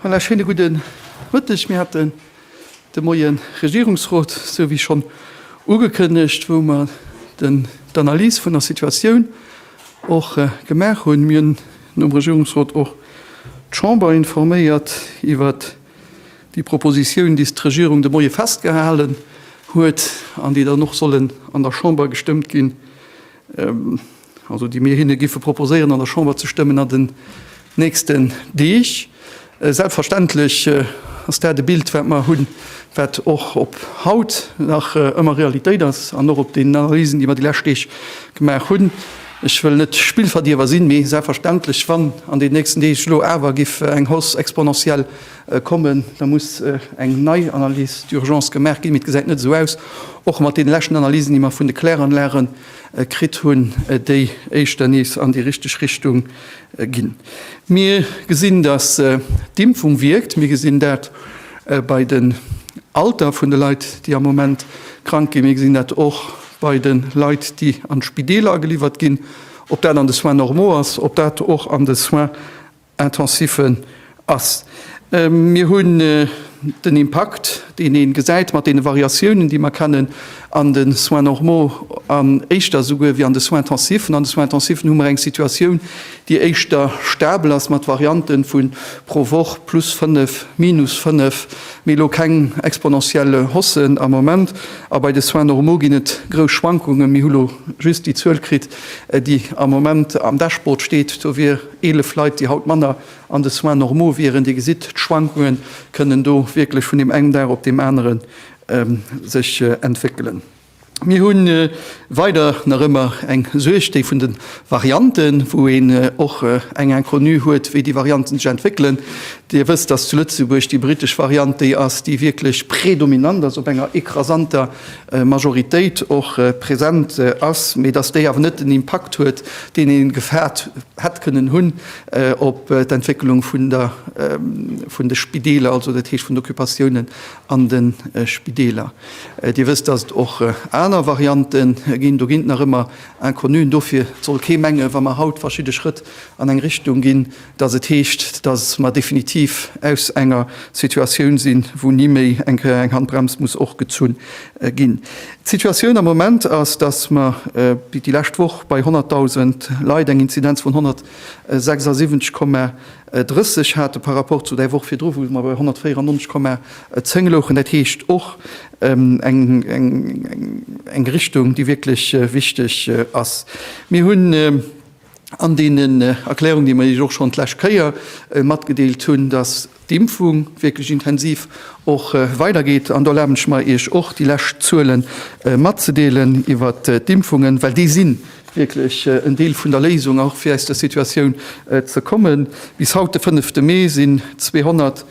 Voilà, schéine gudde Mëtteg. Mir haten de Moien Regierungsrot, esou wéi schonn ugekënnegt, wou mer den d'Analys vun der Situatioun och gemaach hunn. Mir hunn nom Regierungsrot och d'Chamber informéiert iwwert déi Propositioun, déi d'Regierung de Moie festgehalen huet an déi dann och sollen an der Chamber gestëmmt ginn. also déi mir hinne giffe proposéieren an der Chamber ze stëmmen an den nächsten Deeg. Selbstverständlech ass dat e Bild, wat mer hunn, wat och op haut nach ëmmer Realitéit ass an och op den Analysen, déi mer déi lescht Deeg gemaach hunn. Ech wëll net Spillverdierwer sinn, mee selbstverständlech, wann an den nächsten Deeg elo awer giff eng Hausse exponentielle kommen, da muss eng nei Analyse d'urgence gemaach ginn. Mee et gesäit net esou aus, och mat deene leschten Analysen, déi mer vun de Kläranlagen, kritt hunn, déi éischter nees an déi richteg Richtung ginn. Mir gesinn, datt d'Impfung wierkt. Mir gesinn dat bei den Alter vun de Leit, déi am Moment krank ginn. Mir gesinn dat och bei de Leit, déi an d'Spideeler ageliwwert ginn, ob dat an de Soins normaux ass, ob dat och an de Soins Intensive ass. Mir hunn den Impakt, deen ee gesäit mat deene Variatiounen, déi mer kennen an de Soins normaux an éischter esouguer wéi an de Soins intensiven. An de Soins intensiven hu mer eng Situatioun, déi éischter stabel ass mat Variante vu pro Woch plus fënnef, minus fënnef, mee elo keng exponentiell Hausse am Moment. A bei de Soins normaux ginn et grouss Schwankungen. Mir hu lo just déi Zuel kritt, déi am Moment am Dashboard steet, do wier, 11 Leit, déi haut manner an de Soins normaux wieren. Dir gesitt, d'Schwankunge kënnen do wierklech vun deem engen Dag op deem anere sech entwéckelen. Mir hu weider nach ëmmer eng Suerg, déi vun de Varianten, wou een och eng Inconnue huet, wéi déi Varianten sech entwéckelen. Dir wësst, dass zu Lëtzebuerg déi britesch Variant déi ass, déi wierklech predominant ass op enger écrasanter Majoritéit och present ass, mee datt déi awer net den Impakt huet, deen ee gefaart hätt kënnen hunn op d'Entwécklung vun der vun de Spideeler, also dat heescht vun d'Occupatiounen an de Spideeler. Dir wësst, datt et och aner Variante ginn. Do ginn et nach ëmmer Inconnuen. Dofir soll kee menge wa mer haut verschidde Schrëtt an eng Richtung ginn, dass et heescht, dass mer definitiv aus enger Situatioun sinn, wou ni méi eng Handbrems muss och gezunn ginn. D'Situatioun am Moment ass, dass mer déi lescht Woch bei 100.000 Leit eng Inzidenz vun 176,30 hate par rapport zu där Woch virdru, wou mer bei 194,10 louchen. Dat heescht och eng Richtung, déi wierklech wichteg ass. Mir hunn. an deenen Erklärungen, déi mer Iech och schonn d'lescht Kéier matgedeelt hunn, dass d'Impfung wierklech intensiv och weidergeet. An do erlaben ech mer, Iech och déi lescht Zuele matzedeelen iwwer d'Impfungen, well déi si wierklech en Deel vun der Léisung, och fir aus der Situatioun ze kommen. Bis haut, de fënnefte Mee, sinn 200.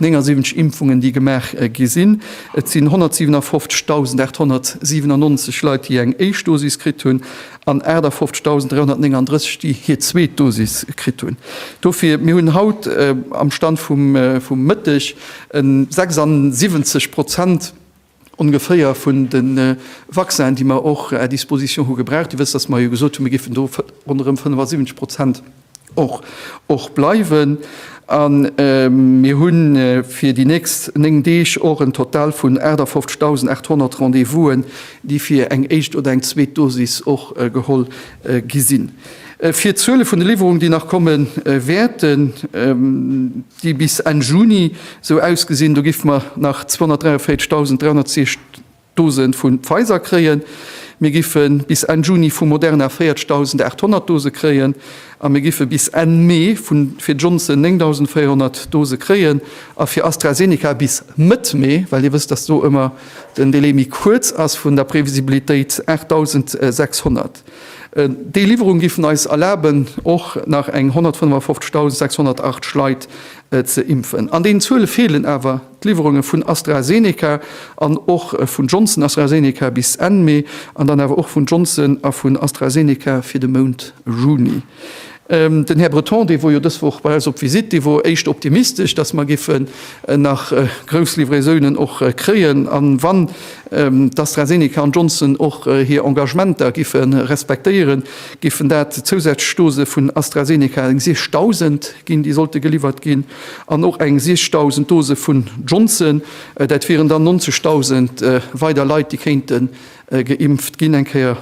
79 Impfungen, déi gemaach gi sinn. Et sinn 157.897 Leit, déi eng éischt Dosis kritt hunn an 58.339, déi hir zweet Dosis kritt hunn. Dofir, mir hunn haut am Stand vum Mëtteg 76 Prozent, ongeféier vun de Vaccinen, déi mer och à disposition hu gebraucht. Dir wësst, dass mer jo gesot hunn, mir géifen do ronderëm 75 Prozent och bleiwen. A mir hu fir déi nächst néng Deeg och en Total vun 58.800 Rendez-vousen, déi fir eng éischt oder eng zweet Dosis och geholl gi sinn. Fir d'Zuele vun de Liwwerungen, déi nach komme wäerten, déi bis Enn Juni esou ausgesinn, do géife mer nach 243.310 Dose vu Pfizer kréien, mir géife bis Enn Juni vu Moderna 40.800 Dose kréien a mir géife bis Enn Mee fir Johnson 9.400 Dose kréien a fir AstraZeneca bis Mëtt Mee, well Dir wësst, datt do ëmmer den Delai méi kuerz ass vun der Previsibilitéit, 8.600. Déi Liwwerung giffen eis erlaben och nach eng 155.608 Leit ze impfen. An deenen Zuele feelen awer d'Liwwerunge vun AstraZeneca an och vun Johnson-AstraZeneca bis Enn Mee an dann awer och vun Johnson a vun AstraZeneca fir de Mount Juni. Den Här Breton, dee wor jo dës Woch bei eis op Visite, dee wor éischt optimistesch, dass mer géife nach grouss Livraisounen och kréien. A wann d'AstraZeneca an Johnson och hir Engagementer géife respektéieren, géifen dat zousätzlech Dose vun AstraZeneca, eng 6.000 ginn, déi sollte geliwwert ginn, an och eng 6.000 Dose vun Johnson. Dat wieren dann 90.000 weider Leit, déi kéinte Geimpft ginn eng Kéier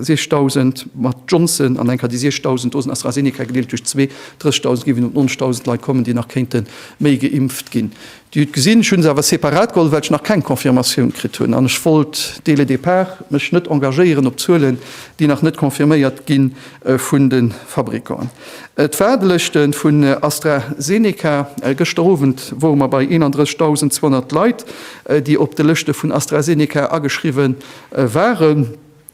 6000 mat Johnson an eng Kéier déi 6000 Dosen AstraZeneca gedeelt duerch zwee. 30.000 gi vun op 90.000 Leit kommen, déi nach kéinte méi geimpft ginn. Déi hutt gesinn. Ech hu se awer separat geholl, well ech nach keng Confirmatioun kritt hunn an ech wollt dès le départ mech net engagéieren op Zuelen, déi nach net confirméiert gi vun de Fabrikanten. Et war de Lëschte vun AstraZeneca. Gëschter Owend wore mer bei 31.200 Leit, déi op de Lëschte vun AstraZeneca ageschriwwe waren.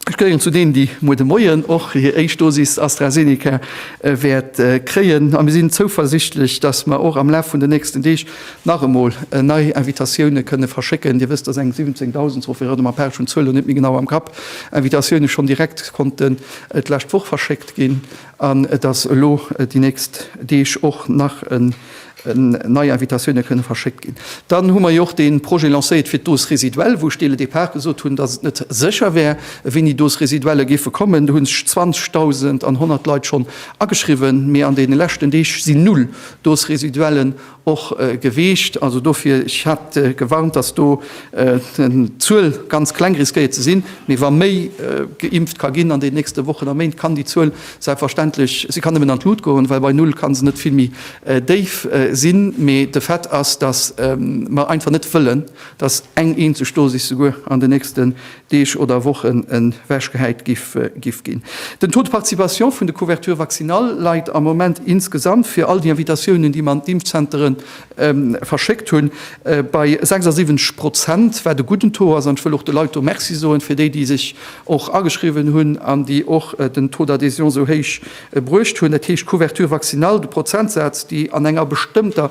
Ech gehéieren zu deenen, déi muer de Moien och hir éischt Dosis AstraZeneca wäert kréien. A mir sinn zouversichtlech, dass mer och am Laf vun den nächsten Deeg nach emol nei Invitatioune kënne verschécken. Dir wësst, dass eng 17.000, sofir et erëm, a Page hunn d'Zuel elo net méi genau am Kapp, Invitatioune schonn direkt konnte d'lescht Woch verschéckt ginn an et ass elo déi nächst Deeg och nach nei Invitatioune kënne verschéckt ginn. Dann hu mer jo och dee Projet lancéiert fir d'Dose résiduelle, wou ech dee le départ gesot hunn, datt et net sécher wär, wéini Dose résiduelle géife kommen. Do hu sech 20.100 Leit schonn ageschriwwen, mee an deene leschten Deeg sinn null Dose résiduellen Och Gewiicht, also dofir, ech hat gewarnt, datt do d'Zuel ganz kleng riskéiert ze sinn, mee wa méi geimpft ka ginn an den nächste Wochen a Méint, kann déi Zuel selbstverständlech, si kann nëmmen an d'Lut goen, well bei Null ka se net vill méi déif sinn. Mee de Fait ass, datt mer einfach net wëllen, datt eng eenzeg Dosis souguer an den nächste Deeg oder Wochen ewechgehäit giff ginn. Den Taux de participation vun de Couverture vaccinale leit am Moment insgesamt, fir all déi Invitatiounen, déi mer an d'Impfzentere verschéckt hunn, bei 76 Prozent, wat e gudden Taux ass. An ech wëll och de Leit do Merci soen, fir déi, déi sech och ageschriwwen hunn an déi och den Taux d'adhésion esou héich bruecht hunn. Dat heescht, d'Couverture vaccinale, de Prozentsaz, déi an enger bestëmmter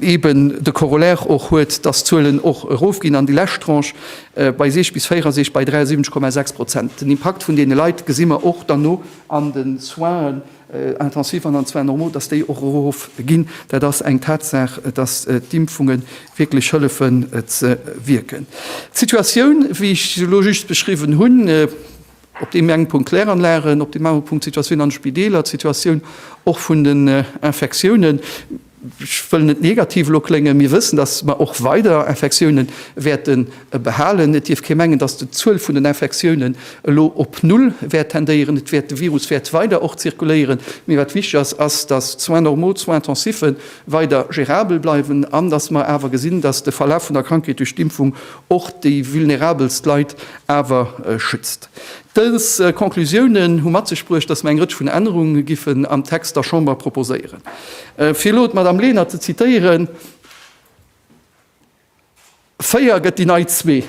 eben de Corollaire och huet, dass d'Zuelen och erofginn an déi lescht Tranche bei 60 bis 64 bei 73,6 Prozent. Den Impakt vun deene Leit gesi mer och dann no an de Soinen intensifs an an de Soins normaux, dass déi och erofginn. Dat ass eng Tatsaach, dass d'Impfunge wierklech hëllefen ze wierken. D'Situatioun, wéi ech se elo just beschriwwen hunn, Op deem enge Punkt d'Kläranlagen, op deem anere Punkt d'Situatioun an de Spideeler, d'Situatioun och vun den Infektiounen. Ech wëll net negativ elo kléngen. Mir wëssen, dass mer och weider Infektioune wäerte behalen. Et dierf kee mengen, dass d'Zuel vun den Infektiounen elo op Null wäert tendéieren. Et wäert, de Virus wäert weider och zirkuléieren. Mee wat wichtig ass, ass, dass d'Soins normaux, d'Soins intensifs weider gérabel bleiwen an dass mer awer gesinn, dass de Verlaf vun der Krankheet duerch d'Impfung och déi vulnerabelst Leit awer schützt. Dës Conclusiounen hu mat sech bruecht, dass mer eng Rëtsch vun Ännerunge giffen am Text der Chamber proposéieren. Fir elo d'Madame Lenert ze zitieren, Véier gëtt déi nei zwee.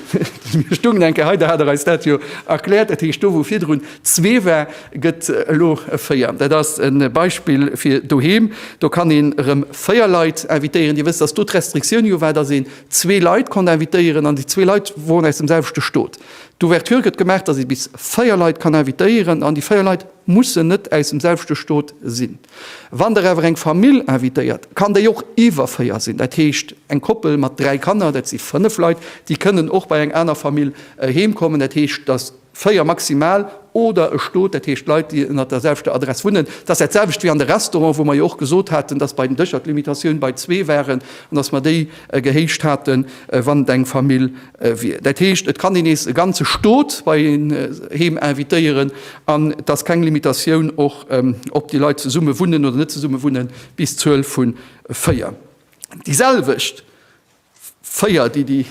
Mir stungen eng Kéier hei, da hat Der eis dat jo erkläert. Dat heescht, do wou virdrun zwee war, gëtt elo véier. Dat ass e Beispill fir doheem. Do kann een erëm véier Leit invitéieren. Dir wësst, dass do d'Restriktioun jo war, dass een zwee Leit konnt invitéieren an déi zwee Leit woren aus dem selwechte Stot. D'Ouverture gëtt gemaach, dass ee bis véier Leit kann invitéieren an déi véier Leit mussen net aus dem selwechte Stot sinn. Wann Der awer eng Famill invitéiert, kann déi och iwwer véier sinn. Dat heescht, eng Koppel mat dräi Kanner, dat si fënnef Leit, déi kënnen och bei eng aner Famill heemkommen. Dat heescht, dass. 4 maximal, oder e Stot, dat heescht Leit, déi ënnert der selwechter Adress wunnen. Dat ass dat selwecht wéi an de Restauranten, wou mer jo och gesot haten, dass bei den Dëscher d'Limitatioun bei zwee waren an dass mer déi gehéicht haten, wann et eng Famill wier. Dat heescht, et kann een nees e ganze Stot bei een heem invitéieren an et ass keng Limitatioun och, ob déi Leit zesumme wunnen oder net zesumme wunnen, bis d'Zuel vu 4. Déi selwecht 4, déi déi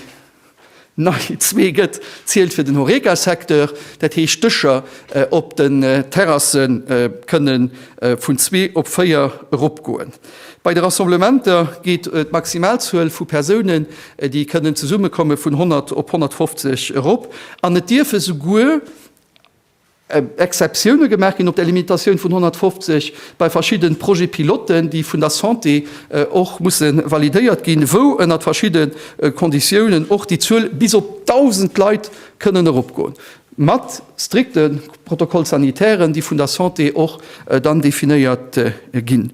nei 2 gëtt, zielt fir den Horeca-Secteur. Dat heescht, d'Dëscher op den Terrasse kënne vun zwee op véier eropgoen. Bei de Rassemblementer geet d'Maximalzuel vu Persounen, déi kënnen zesummekomme vun 100 op 150 erop an et dierfe souguer Exceptioune gemaach ginn op där Limitatioun vun 150 bei verschidde Projets piloten, déi vun der Santé och musse validéiert ginn, wou ënnert verschidde Konditiounen och déi Zuel bis op 1.000 Leit kënnen eropgoen, mat strikte Protocoles sanitaires, déi vun der Santé och dann definéiert ginn.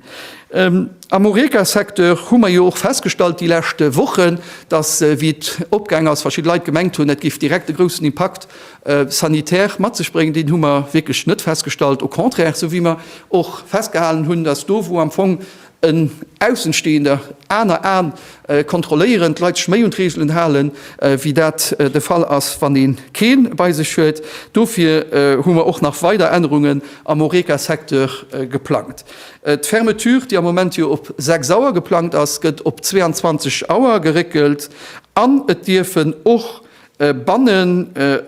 Am Horeca-Secteur hu mer jo och festgestallt déi leschte Wochen, dass, wéi et opgaang ass, verschidde Leit gemengt hunn, et géif direkt e groussen Impakt Sanitär mat sech bréngen, deen hu mer wierklech net festgestallt, au contraire, sou wéi mer och festgehalen hunn, datt do wou am Fong en Aussenstehender, aner Aen kontrolléieren, d'Leit sech méi un d'Reegelen halen, wéi dat de Fall ass, wann ee kee bei sech huet. Dofir hu mer och nach weider Ännerungen am Horeca-Secteur geplangt. D'Fermeture, déi am Moment jo op 6 Auer geplangt ass, gëtt op 22 Auer geréckelt an et dierfen och banne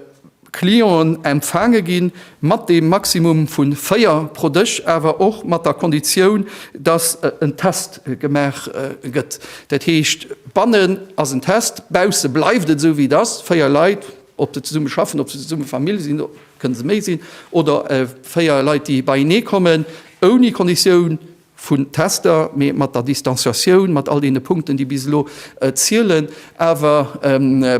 Clienten empfaange ginn, mat deem Maximum vu véier pro Dësch, awer och mat der Konditioun, dass en Test gemaach gëtt. Dat heescht, bannen ass en Test, bausse bleift et esou wéi et ass, véier Leit, ob se zesumme schaffen, ob se zesumme Famill sinn, kënne se méi sinn, oder véier Leit, déi beienee kommen, ouni Konditioun, vun Tester, mee mat der Distanziatioun, mat all deene Punkten, déi bis elo zielen. Awer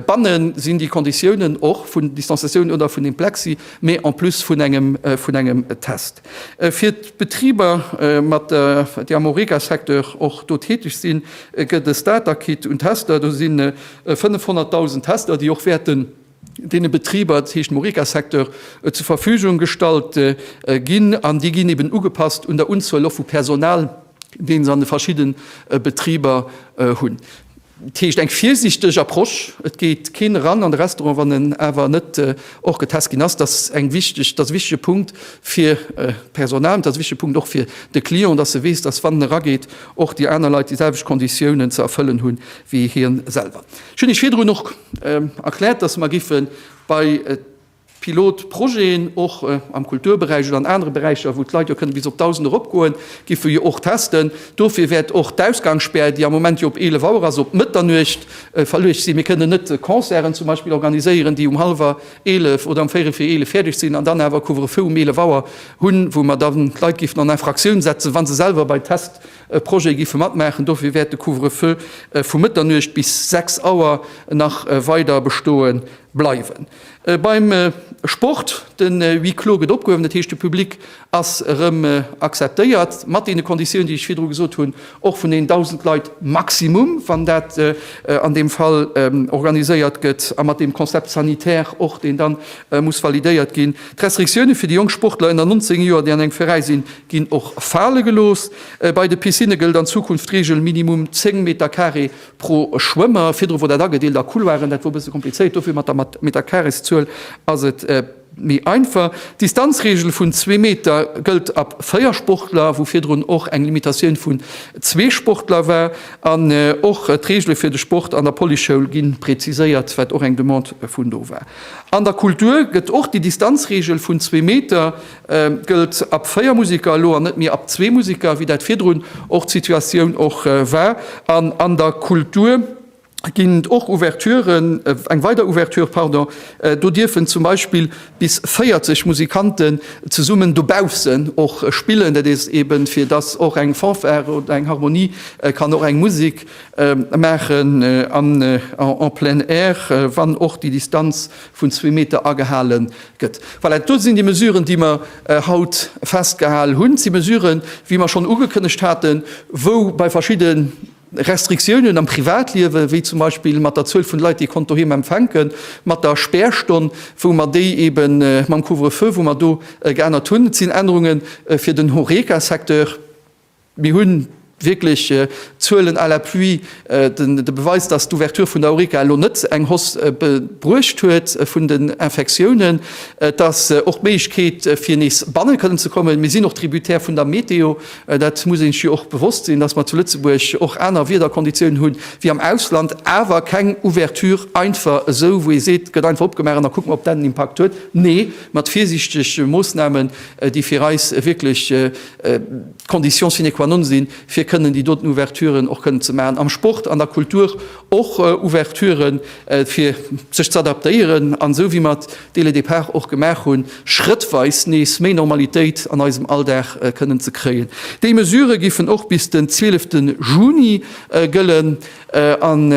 banne sinn déi Konditiounen och vun Distanziatioun oder vun deem Plexi, mee en plus vun engem Test. Fir d'Betriber, déi am Horeca-Secteur och do täteg sinn, gëtt e Starter-Kit un Tester. Do si 500.000 Tester, déi och wäerten, deene Betriber, dat heescht dem Horeca-Secteur, zur Verfügung gestallt ginn an déi ginn eben ugepasst un der Unzuel och vu Personal, dee se an de verschidde Betriber hunn. Dat heescht eng virsiichteg Approche. Et geet keen eran an de Restaurant, wann en awer net och getest ginn ass. Dat ass e wichtege Punkt fir d'Personal, dat ass e wichtege Punkt och fir de Client, dass e weess, dass wann en erageet, och déi aner Leit déi selwecht Konditiounen ze erfëllen hu wéi hie selwer. Ech hunn Iech virdrun och erkläert, dass mer giffe bei Pilotprojeten, och am Kulturberäich oder an anere Beräicher, wou d'Leit jo kënne bis op 1.000 eropgoen, giffe jo och testen. Dofir wäert och d'Ausgangsspär, déi am Moment jo op 11 Auer ass, op Mëtternuecht verluecht sinn. Mir kënnen net Concerten zum Beispill organiséieren, déi um hallwer 11 oder um véierel vir 11 fäerdeg sinn an dann awer e Couvre-feu um 11 Auer hunn, wou mer dann d'Leit giffen an Infractioun setzen, wa se selwer bei Test Projete géife matmaachen. Dofir wäert de Couvre-feu vu Mëtternuecht bis 6 Auer nach weider bestoe bleiwen. Beim Sport, de Huis clos gëtt opgehuewen, dat heescht de Public ass erëm acceptéiert, mat deene Konditiounen, déi ech virdru gesot hunn, och vun den 1.000 Leit maximum, wann dat an deem Fall organiséiert gëtt, a mat deem Concept sanitaire och, deen da muss validéiert ginn. D'Restriktioune fir déi jonk Sportler ënner 19 Joer, déi an engem Veräi sinn, Ginn och fale gelooss. Bei de Piscinne gëllt an Zukunft d'Reegel minimum 10 Metercarré pro Schwëmmer. Virdru wor dat agedeelt a Couloiren, dat wor e bësse komplizéiert. Dofir mat der Metercarrészuel ass et méi einfach. D'Distanzreegel vun zwee Meter gëllt ab véier Sportler, wou virdrun och eng Limitatioun vun zwee Sportler war. An och d'Reegele fir de Sport an der Policeschoul ginn präziséiert, wat och eng Demande vun do war. An der Kultur gëtt och déi Distanzreegel vun zwee Meter Gëllt ab 4 Musiker elo an net méi ab zwee Musiker, wéi dat virdrun och d'Situatioun och war? An an der Kultur ginn et och Ouverturen, eng weider Ouverture, pardon, do dierfen zum Beispill bis 40 Musikanten zesummen dobaussen och spillen. Dat is ebe fir dass och eng Fanfare oder eng Harmonie kann och eng Musek maachen en plein air, wann och déi Distanz vun zwee Meter agehale gëtt. Voilà, do sinn déi Mesuren, déi mer haut festgehal hunn. Dat si Mesuren, wéi mer schonn ugekënnegt haten, wou bei verschidde Restriktiounen am Privatliewe, wéi zum Beispill mat der Zuel vun Leit, déi ee konnt doheem empfänken, mat der Spärstonn, wou mer déi eeben, mam Couvre-feu, wou mer do geännert hunn. Et sinn Ännerunge fir den Horeca-Secteur. Mir hunn wierklech Zuelen à l'appui, de Beweis, dass d'Ouverture vun der Horeca elo net eng Hausse bruecht huet vun den Infektiounen. Et ass och d'Méiglechkeet, fir nees banne kënnen ze kommen. Mir sinn och tributaire vun der Meteo. Dat muss ee sech jo och bewosst sinn, dass mer zu Lëtzebuerg och aner Wiederkonditiounen hu wéi am Ausland. Awer keng Ouverture einfach esou, wou ee seet, gëtt einfach opgemaach an da kucke mer, ob dat en Impakt huet. Nee, mat virsiichtege Moossnamen, déi fir eis wierklech d'Condition sine qua non sinn, fir kënnen déi doten Ouverturen och kënnen ze maachen. Am Sport, an der Kultur och Ouverturen, fir sech ze adaptéieren an, esou wéi mer d'Délais départs och gemaach hunn, schrëttweis nees méi Normalitéit an eisem Alldag kënnen ze kréien. Déi Mesurë giffen och bis den 12 Juni gëllen an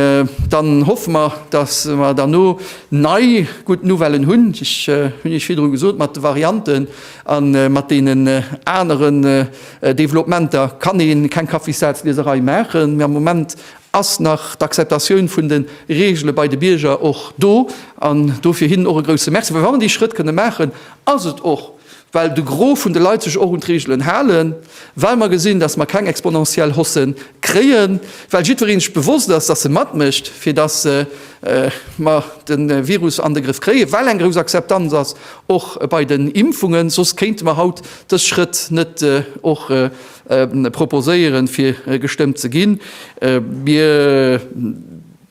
dann hoffe mer, dass mer derno nei gutt Nouvellen hunn. Ech hunn Iech virdrun gesot, mat de Varianten, A mat deenen aneren Developementer kann ee keng Kaffissazlieserei maachen. Mee am Moment ass nach d'Akzeptatioun vun de Regele bei de Bierger och do. An dofir hinnen och e grouse Merci. Well wa mer dee Schrëtt kënne maachen, ass et och, well de Gros vun de Leit sech och un d'Regelen halen, well mer gesinn, datt mer keng exponentiell Hausse kréien, well jiddweree sech bewosst ass, datt e matmécht, fir datt mer de Virus an de Grëff kréien, well eng grouss Akzeptanz ass. Och bei den Impfungen, soss kéinte mer haut dës Schrëtt net och proposéieren, fir gestëmmt ze ginn. Mir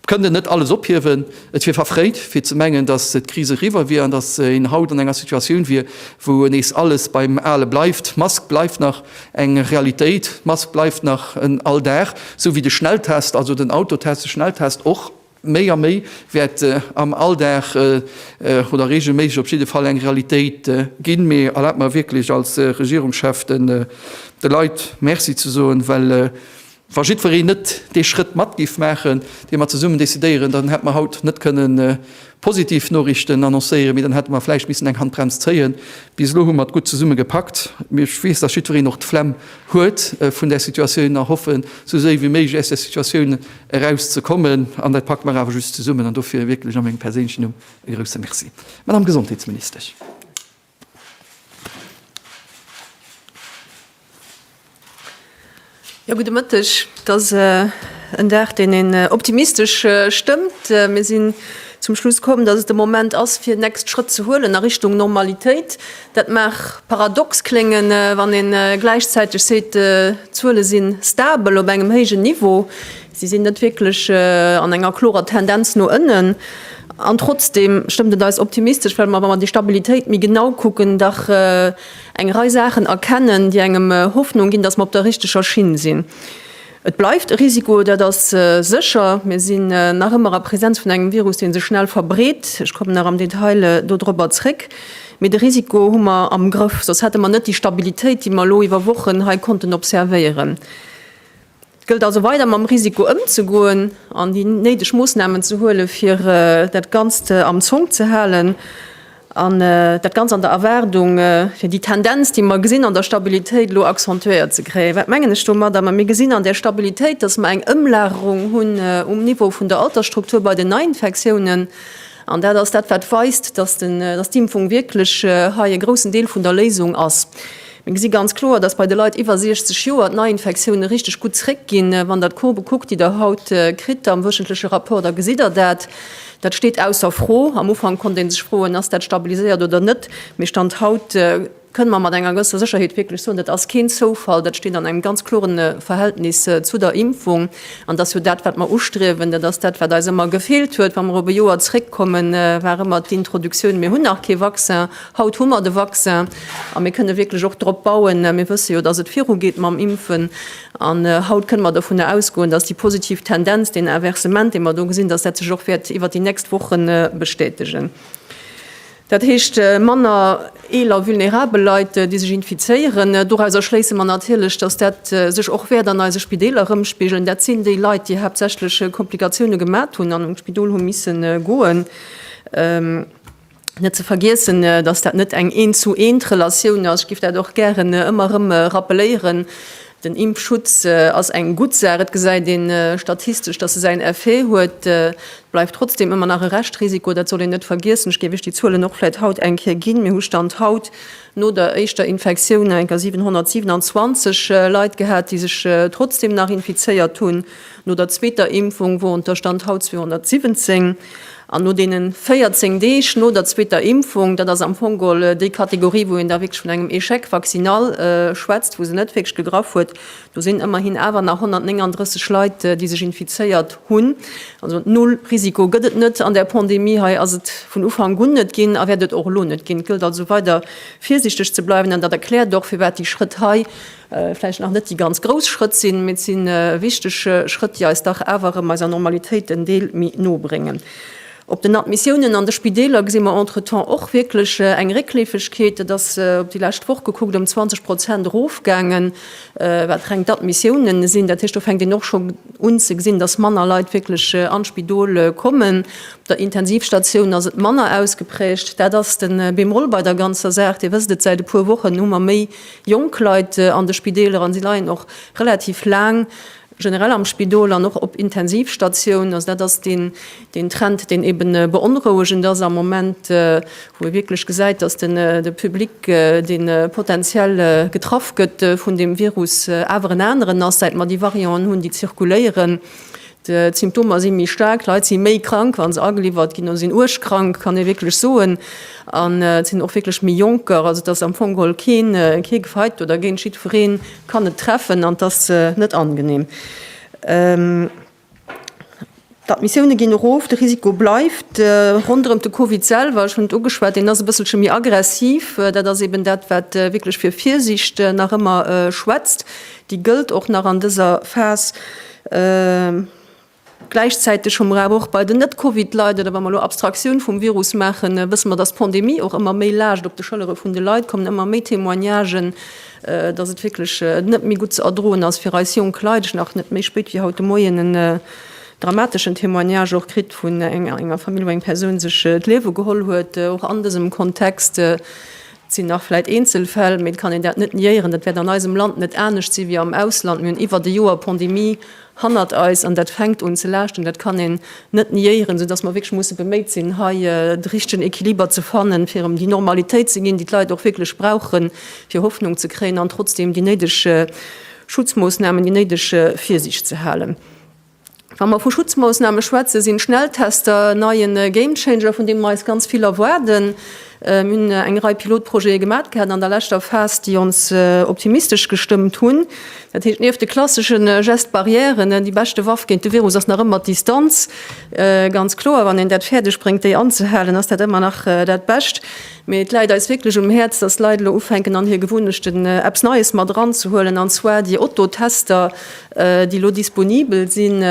kënnen net alles ophiewen. Et wier verfréit, fir ze mengen, datt d'Kris eriwwer wier an datt een haut an enger Situatioun wier, wou nees alles beim Ale bleift. D'Mask bleift nach eng Realitéit, d'Mask bleift nach en Alldag, esou wéi de Schnelltest, also den Autotest, de Schnelltest och. Méi a méi wäert am Alldag oder reegelméisseg op jidde Fall eng Realitéit ginn. Mee erlaabt mer wierklech als Regierungschef de Leit Merci ze soen, well wa jiddwereen net dee Schrëtt mat géif maachen, dee mer zesummen decidéieren, dann hätte mer haut net kënne positiv Noriichten annoncéieren, mee dann hätte mer vläicht missen eng Handbrems zéien. Bis elo hu mer et gutt zesumme gepackt. Mee ech weess, datt jiddwereen och d'Flemm huet vun där Situatioun a hoffen, esou séi wéi méiglech aus där Situatioun eraus ze kommen, an dat packe mer awer just zesummen, an dofir wierklech a mengem perséinlechen Numm e grouse Merci, Madame Gesondheetsministesch. Jo, gudde Mëtteg. Et ass en Dag, deen een optimistesch stëmmt. Mir sinn zum Schluss komm, dass et de Moment ass, fir nächst Schrëtt ze huelen a Richtung Normalitéit. Dat mag paradox kléngen, wann een gläichzäiteg seet, d'Zuele si stabel op engem héijen Niveau, si sinn net wierklech an enger klorer Tendenz no ënnen. An trotzdeem stëmmt et eis optimistesch, well mer, wa mer déi Stabilitéit méi genau kucken, dach eng Rei Saachen erkennen, déi engem Hoffnung ginn, dass mer op der richteger Schinn sinn. Et bleift e Risiko, dat ass sécher. Mir sinn nach ëmmer a Presenz vun engem Virus, dee sech schnell verbreet. Ech kommen nach am Detail dodropper zréck. Mee de Risiko hu mer am Grëff, soss hätte mer net déi Stabilitéit, déi mer elo iwwer Wochen hei konnten observéieren. Et gëllt also weider mam Risiko ëmzegoen an déi néideg Moossnamen ze huelen, fir dat Ganzt am Zonk ze halen. An dat ganz an der Erwaardung, fir déi Tendenz, déi mer gesinn an der Stabilitéit, elo accentuéiert ze kréien. Wat mengen ech domadder? Mä mir gesinn an där Stabilitéit, datt mer eng Ëmlagerung hunn um Niveau vun der Altersstruktur bei den Neiinfektiounen. An dat ass dat, wat weist, datt d'Impfung wierklech hei e groussen Deel vun der Léisung ass. Mir gesi ganz kloer, datt bei de Leit iwwer 60 Joer d'Neiinfektioune richteg gutt zréckginn, wann Der d'Courbë kuckt, déi Der haut kritt am wöchentleche Rapport, da gesitt Der dat. Dat steet ausser Fro. Am Ufank konnt ee sech froen, Ass dat stabiliséiert oder net? Mee Stand haut kënne mer mat enger gëwesser Sécherheet wierklech soen, Dat ass keen Zoufall. Dat steet an engem ganz klore Verhältnis zu der Impfung. An dat ass jo dat, wat mer ustriewen. Dat ass dat, wat eis ëmmer gefeelt huet. Wa mer op e Joer zréckkommen, war ëmmer d'Introduktioun, Mir hunn nach kee Vaccin. Haut hu mer de Vaccin a mir kënne wierklech och drop bauen. Mir wësse jo, dass et virugeet mam Impfen. An haut kënne mer dovunner ausgoen, dass déi positiv Tendenz, deen Inversement, dee mer do gesinn, dass dat sech och wäert iwwert déi nächst Woche bestätegen. Dat heescht, manner eeler a vulnerabel Leit, déi sech infizéieren. Doraus erschléisse mer natierlech, dass dat sech och wäert an eise Spideeler erëmspigelen. Dat sinn déi Leit, déi haaptsächlech Komplikatioune gemat hunn an an d'Spidol hu misse goen. Net ze vergiessen, dass dat net eng Eent-zu-Eent-Relatioun ass, ech giff dat och gären ëmmer erëm rappeléieren, den Impfschutz ass eng gutt Saach, et gesäit een statistesch, dass e säin Effet huet, et bleift trotzdem ëmmer nach e Reschtrisiko, dat soll een net vergiessen. Ech géif Iech déi Zuelen och vläit haut eng Kéier ginn, Mir hu Stand haut no der éischter Infektioun enker 727 Leit gehat, déi sech trotzdem nach infizéiert hunn. No der zweeter Impfung woren ter Stand haut 217 an no deene 14 Deeg no der zweeter Impfung, dat ass am Fong gol déi Kategorie, wou een da wierklech vun engem Échec vaccinal schwätzt, wou se net wierklech gegraff huet, do sinn ëmmerhin awer nach 139 Leit, déi sech infizéiert hunn. Also null Risiko gëtt et net an där Pandemie. Hei ass et vun Ufank un net ginn a wäert et och elo net ginn. Et gëllt also weider virsiichteg ze bleiwen an dat erkläert och, firwat déi Schrëtt hei vläicht nach net déi ganz grouss Schrëtt sinn, mee et si wichteg Schrëtt, déi eis dach awer erëm eiser Normalitéit en Deel méi no bréngen. Op den Admissiounen an de Spideeler gesi mer entretemps och wierklech eng Réckleefegkeet. Dat ass op déi lescht Woch gekuckt ëm 20 Prozent erofgaangen, wat reng d'Admissiounen sinn. Dat heescht, do fänkt een och scho un ze gesinn, dass manner Leit wierklech an d'Spidol kommen. Op der Intensivstatioun ass et manner ausgeprägt. Dat ass de Bémol bei der ganzer Saach. Dir wësst et, säit e puer Wochen hu mer méi Jonk Leit an de Spideeler an si leien och relativ laang generell am Spidol an och op Intensivstatioun. Also dat ass deen Trend, deen eebe beonrouegend ass am Moment, wou ee wierklech gesäit, datt de Public, dee potentiell getraff gëtt vun deem Virus, awer en aneren ass, säit mer déi Varianten hunn, déi zirkuléieren. D'Symptomer si méi staark, d'Leit si méi krank, wa se ageliwwert ginn oder sinn uerg krank, kann ee wierklech soen. An et sinn och wierklech méi Jonker. Also et ass am Fong geholl keen kee gefeit do dergéint. Jiddweree kann et treffen an et ass net angenehm. D'Admissioune ginn erof, de Risiko bleift. Ronderëm de Covid selwer, ech hunn et ugeschwat, deen ass e bësselche méi aggressiv. Dat ass eben dat, wat wierklech fir Virsiicht nach ëmmer schwätzt. Déi gëllt och nach an dëser Phas. Gläichzäiteg hu mer awer och bei den Net-Covid-Leit, oder wa mer elo Abstraktioun vum Virus maachen, wësse mer, dass d'Pandemie och ëmmer méi laascht op de Schëllere vun de Leit, kommen ëmmer méi Témoignagen, dass et wierklech net méi gutt ze erdroen ass fir eis jonk Leit. Ech hunn nach net méi spéit wéi haut de Moien en dramateschen Témoignage och kritt vun enger Famill, wou eng Persoun sech d'Liewe geholl huet, och an dësem Kontext. Et sinn nach vläit Eenzelfäll, mee et kann een dat net niéieren. Dat wäert an eisem Land net anescht si wéi am Ausland. Mir hunn iwwert e Joer Pandemie hannert eis an dat fänkt un ze laaschten. Dat kann een net niéieren, soudass mer wierklech musse beméit sinn, hei de richtegen Equiliber ze fannen, fir erëm déi Normalitéit ze ginn, déi d'Leit och wierklech brauchen, fir Hoffnung ze kréien an trotzdeem déi néideg Schutzmoossnamen, déi néideg Virsiicht ze halen. Wa mer vu Schutzmoossname schwätzen, sinn d'Schnelltester en neien Gamechanger, vun deem mer eis ganz vill erwaarden. Mir hunn eng Rei Pilotprojete gemaat gehat an der leschter Phas, déi ons optimistesch gestëmmt hunn. Dat heescht, nieft de klasseschen Gestes barrières, déi beschte Waff géint de Virus ass nach ëmmer d'Distanz, ganz kloer, wann een dat fäerdeg bréngt, déi anzehalen, ass dat ëmmer nach dat Bescht. Mee et läit eis wierklech um Häerz, dass d'Leit elo ufänken, an hir Gewunnechten eppes Neies mat eranzehuelen, an zwar déi Oto-Tester, déi elo disponibel sinn,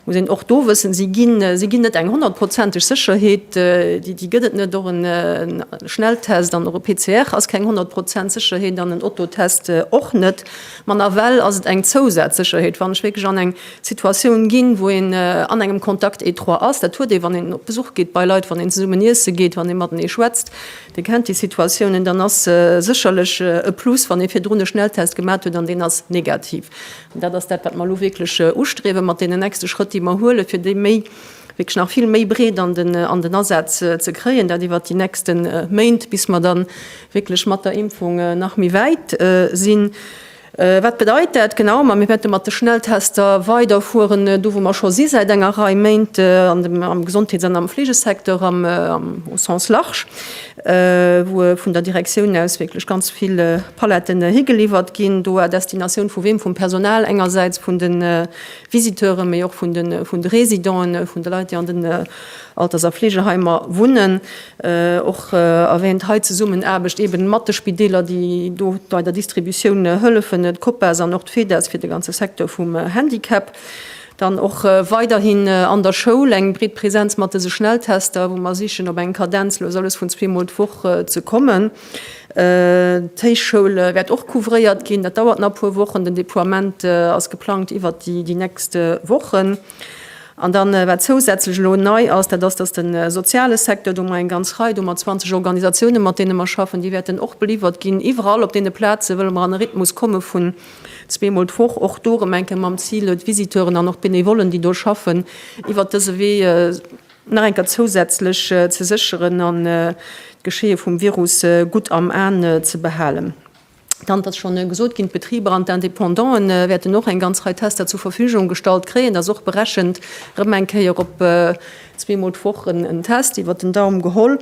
muss een och do wëssen, si ginn, si ginn net eng honnertprozenteg Sécherheet, déi, déi gëtt et net. Och en Schnelltest an och e PCR ass keng honnert Prozent Sécherheet an en Autotest och net. Ma nawell ass et eng Zousazsécherheet, wann ech wierklech an eng Situatioun ginn, wou een an engem Contact étroit ass, dat huet ee wann een op Besuch geet bei Leit, wann een zesummen iesse geet, wann ee matenee schwätzt, Dir kennt déi Situatiounen, dann ass se sécherlech e Plus, wann ee virdrun e Schnelltest gemat huet an deen ass negativ. An dat ass dat, wat mer elo wierklech ustriewen, mat deenen nächste Schrëtt, déi mer huelen, fir déi méi, wierklech nach vill méi breet an den Asaz ze kréien, dat iwwert déi nächste Méint, bis mer da wierklech mat der Impfung nach méi wäit sinn. Wat bedeit dat genau? Ma mir wäerte mat de Schnelltester weiderfueren, do wou mer scho si säit enger Rei Méint, am Gesondheets an am Fleegesecteur am au sens large, wou vun der Direktioun aus wierklech ganz vill Paletten higeliwwert ginn, do à destination vu wem? Vum Personal engersäits, vun de Visiteuren, mee och vun de Résidenten, vun de Leit, déi an den Alters a Fleegeheimer wunnen. Och erwähnt hei d'Zesummenaarbecht eben mat de Spideeler, déi do bei der Distributioun hëllefen, d'Copas an och d'Fedas fir de ganze Secteur vum Handicap. Dann och weiderhin an der Schoul eng breet Präsenz mat dese Schnelltester, wou mer sichen, op eng Kadenz elo alles vun zwee Mol d'Woch ze kommen. D'Héichschoul wäert och couvréiert ginn. Dat dauert nach e puer Wochen. Den Deploiement ass geplangt iwwert déi nächst Wochen. An dann, wat zousätzlech elo nei ass, dat ass, dass de soziale Secteur, do hu mer eng ganz Rei, do hu mer 20 Organisatiounen, mat deene mer schaffen, déi wäerten och beliiwert ginn. Iwwerall op deene Plaze wëlle mer an e Rhythmus komme vun zweemol d'Woch, och do erëm eng Kéier mam Zil, d'Visiteuren an och d'Benevollen, déi do schaffen, iwwert dëse Wee nach eng Kéier zousätzlech ze sécheren an d'Geschéie vum Virus gutt am An ze behalen. Dann ass schonn gesot ginn, d'Betriber an d'Indépendante wäerten och eng ganz Rei Tester zur Verfügung gestallt kréien. Et ass och berechent, erëm eng Kéier op zweemol d'Woch en Test, iwwer den Daum geholl.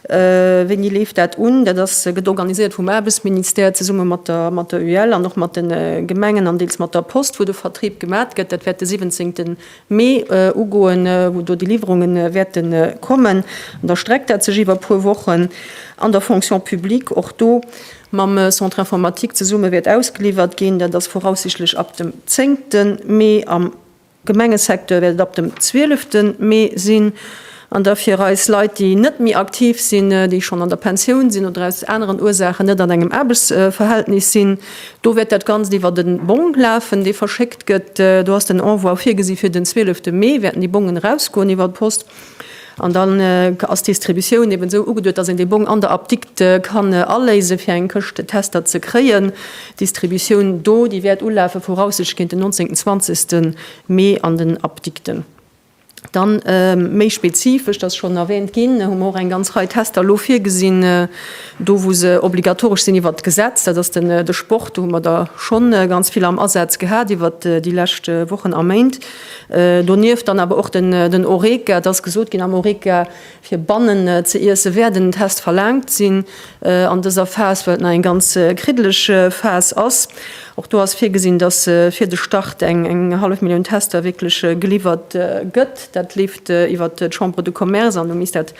Wéini leeft dat un? Dat ass, gëtt organiséiert vum Aarbechtsministère zesumme mat der, mat der UEL an och mat de Gemengen an deels mat der Post, wou de Vertrib gemat gëtt. Dat wäert de 17. Mee ugoen, wou do déi Liwwerunge wäerte kommen. An da streckt dat sech iwwer e puer Wochen. An der Fonction publique, och do, mam Centre informatique zesumme wäert ausgeliwwert ginn. Dat ass voraussichtlech ab dem zéngte Mee. Am Gemengesecteur wäert et ab dem zwielefte Mee sinn. An da fir eis Leit, déi net méi aktiv sinn, déi schonn an der Pensioun sinn oder aus aneren Ursachen net an engem Aarbechtsverhältnis sinn, do wäert dat Ganzt iwwert e Bong lafen, dee verschéckt gëtt. Do ass den Envoi virgesi fir den zwielefte Mee, wäerten déi Bongen erausgoen iwwer d'Post. An dann ass d'Distributioun eben esou ugeduet, dass een dee Bong an der Apdikt kann aléise fir eng Këscht Tester ze kréien. D'Distributioun do, déi wäert ulafe voraussichtlech géint den 19, 20 Mee an den Apdikten. Dann méi spezifesch, dass schonn erwähnt ginn, hu mer och eng ganz Rei Tester elo virgesinn, do wou se obligatoresch sinn iwwert d'Gesetz. Dat ass den de Sport, do hu mer der schonn ganz vill am Asaz gehat iwwert déi lescht Wochen a Méint. Donieft dann awer och den Horeca. Et ass gesot ginn, am Horeca fir bannen ze iessen, wäert en Test verlaangt sinn an dëser Phas, well et nach eng ganz kriddeleg Phas ass. Och do ass virgesinn, datt fir de Start eng hallef Millioun Tester wierklech geliwwert gëtt. Dat leeft iwwert d'Chambre de Commerce an du misst dat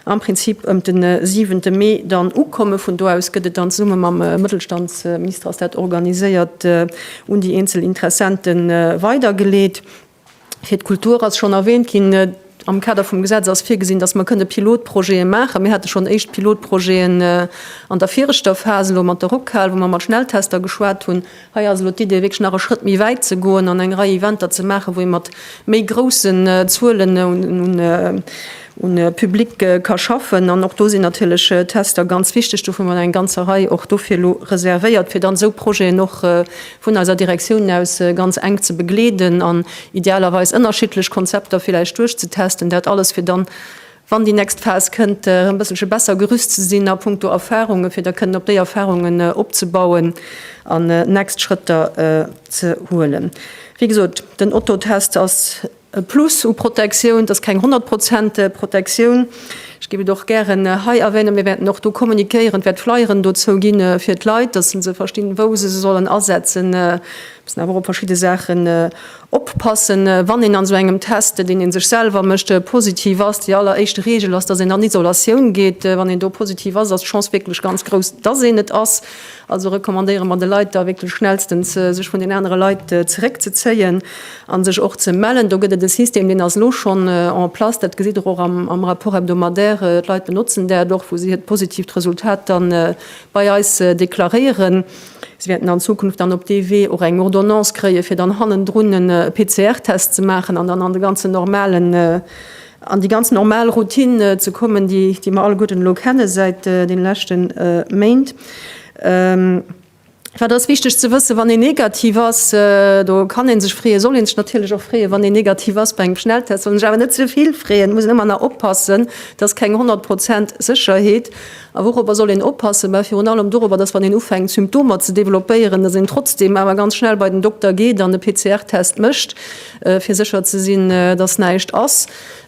am Prinzip ëm de siwente Mee dann ukomme. Vun do aus gëtt et dann zesumme mam Mëttelstandsminister, ass dat organiséiert, un déi eenzel Interessente weidergeleet. Fir d'Kultur ass schonn erwähnt ginn, am Kader vum Gesetz ass virgesinn, datt mer kënne Pilotprojete maachen. Mir hate schonn éischt Pilotprojeten an der viregter Phas elo mat der Rockhal, wou mer mat Schnelltester geschwat hunn, Hei ass elo d'Idee, wierklech nach e Schrëtt méi wäit ze goen an eng Rei Eventer ze maachen, wou ee mat méi groussen Zuelen un Public ka schaffen. An och do sinn natierlech Tester ganz wichteg. Dovun hunn mer eng ganzer Rei och dofir elo reservéiert, fir dann esou Projeten och vun eiser Direktioun aus ganz enk ze begleeden an idealerweis ënnerschiddlech Konzepter villäicht duerchzetesten. Dat alles, fir dann wann déi next Phas kënnt, e bësselche besser gerüst ze sinn a punkto Erfahrungen, fir da kënnen op déi Erfahrungen opzebauen an next Schrëtter ze huelen. Wéi gesot, den Otto-Test ass e Plus u Protektioun, et ass keng 100 Prozent Protektioun. Ech géif et och gären hei erwänen, mir wäerten och do kommunikéieren, et wäert Flyeren dozou ginn, fir d'Leit, dass se verstinn, wou se se sollen asetzen. Mir müssen awer och op verschidde Saachen Oppassen, wann een an esou engem Test, deen ee sech selwer mécht, positiv ass, déi alleréischt Reegel ass, dass een an Isolatioun geet. Wann een do positiv ass, ass d'Chance wierklech ganz grouss, dass een et ass. Also recommandéiere mer de Leit da wierklech schnellstens, sech vun den anere Leit zeréckzezéien a sech och ze mellen. Do gëtt et e System, deen ass elo schonn en place, dat gesitt Der och am Rapport hebdomadaire, d'Leit benotzen dat och, wou si hiert positiivt Resultat da bei eis deklaréieren. Si wäerten an Zukunft dann op dee Wee och eng Ordonnance kréien, fir dann hannendrun e PCR-Test ze maachen an dann an de ganzen normalen, an déi ganz normal Routine ze kommen, déi mer alleguerten elo kenne säit de leschte Méint. Wat ass wichteg ze wëssen, Wann een negativ ass, do kann ee sech freeën, soll ee sech natierlech och freeën, wann een negativ ass bei engem Schnelltest. Soll een sech awer net ze vill freeën, muss een ëmmer nach oppassen, et ass keng 100 Prozent Sécherheet. A wourobber soll een oppassen? Mä virun allem dorobber, dass wann een ufänkt Symptomer ze developpéieren, dass een trotzdeem awer ganz schnell bei den Dokter geet an e PCR-Test mécht, fir sécher ze sinn, dass näischt ass.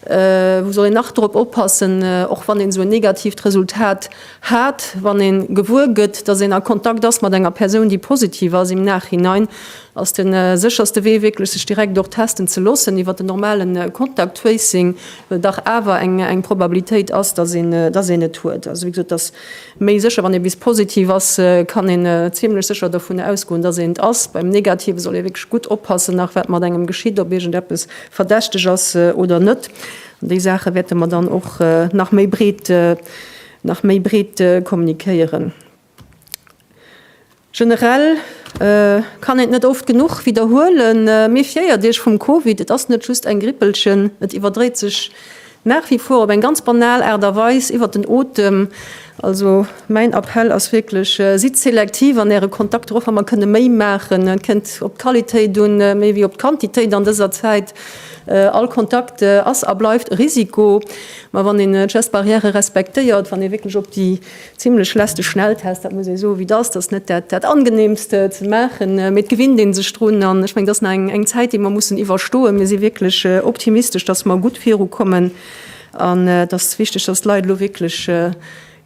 Wou soll een nach drop oppassen, och wann een esou en negatiivt Resultat hat, wann ee gewuer gëtt, dass een a Kontakt ass mat enger Persoun, déi positiv ass? Im Nachhinein ass de sécherste Wee wierklech, sech direkt och testen ze loossen iwwer den normalen Contact Tracing. dach awer eng Probabilitéit ass, dass een et huet. Also, wéi gesot, et ass méi sécher, wann eppes positiv ass, kann een zimlech sécher dovun ausgoen, dass een et ass. Beim Negative soll ee wierklech gutt oppassen, nach wat mat engem geschitt, ob iergendeppes verdächteg ass oder net. An déi Saache wäerte mer dann och nach méi breet kommunikéieren. Generell kann een et net oft genuch widderhuelen, Méfiéiert Iech vum Covid, et ass net just eng Grippelchen, et iwwerdréit sech nach wie vor op eng ganz banal Aart a Weis iwwert den Otem. Also mäin Appell ass wierklech, sidd selektiv an Äre Kontakter, och wa mer kënne méi maachen. Et kënnt op d'Qualitéit un méi wéi op d'Quantitéit an dëser Zäit. All Kontakt ass a bleift e Risiko, ma wann een d'Geste barrière respektéiert, wann ee wierklech op déi Zimlech lässt de Schnelltest, dat muss ee soen, wéi et ass. Dat ass net dat, dat angenehmste ze maachen, mee et gewinnt een sech drun. An ech mengen, dat ass nach eng, eng Zäit, déi mer mussen iwwerstoen. Mir si wierklech optimistesch, dass mer gutt virukommen. An et ass wichteg, dass d'Leit elo wierklech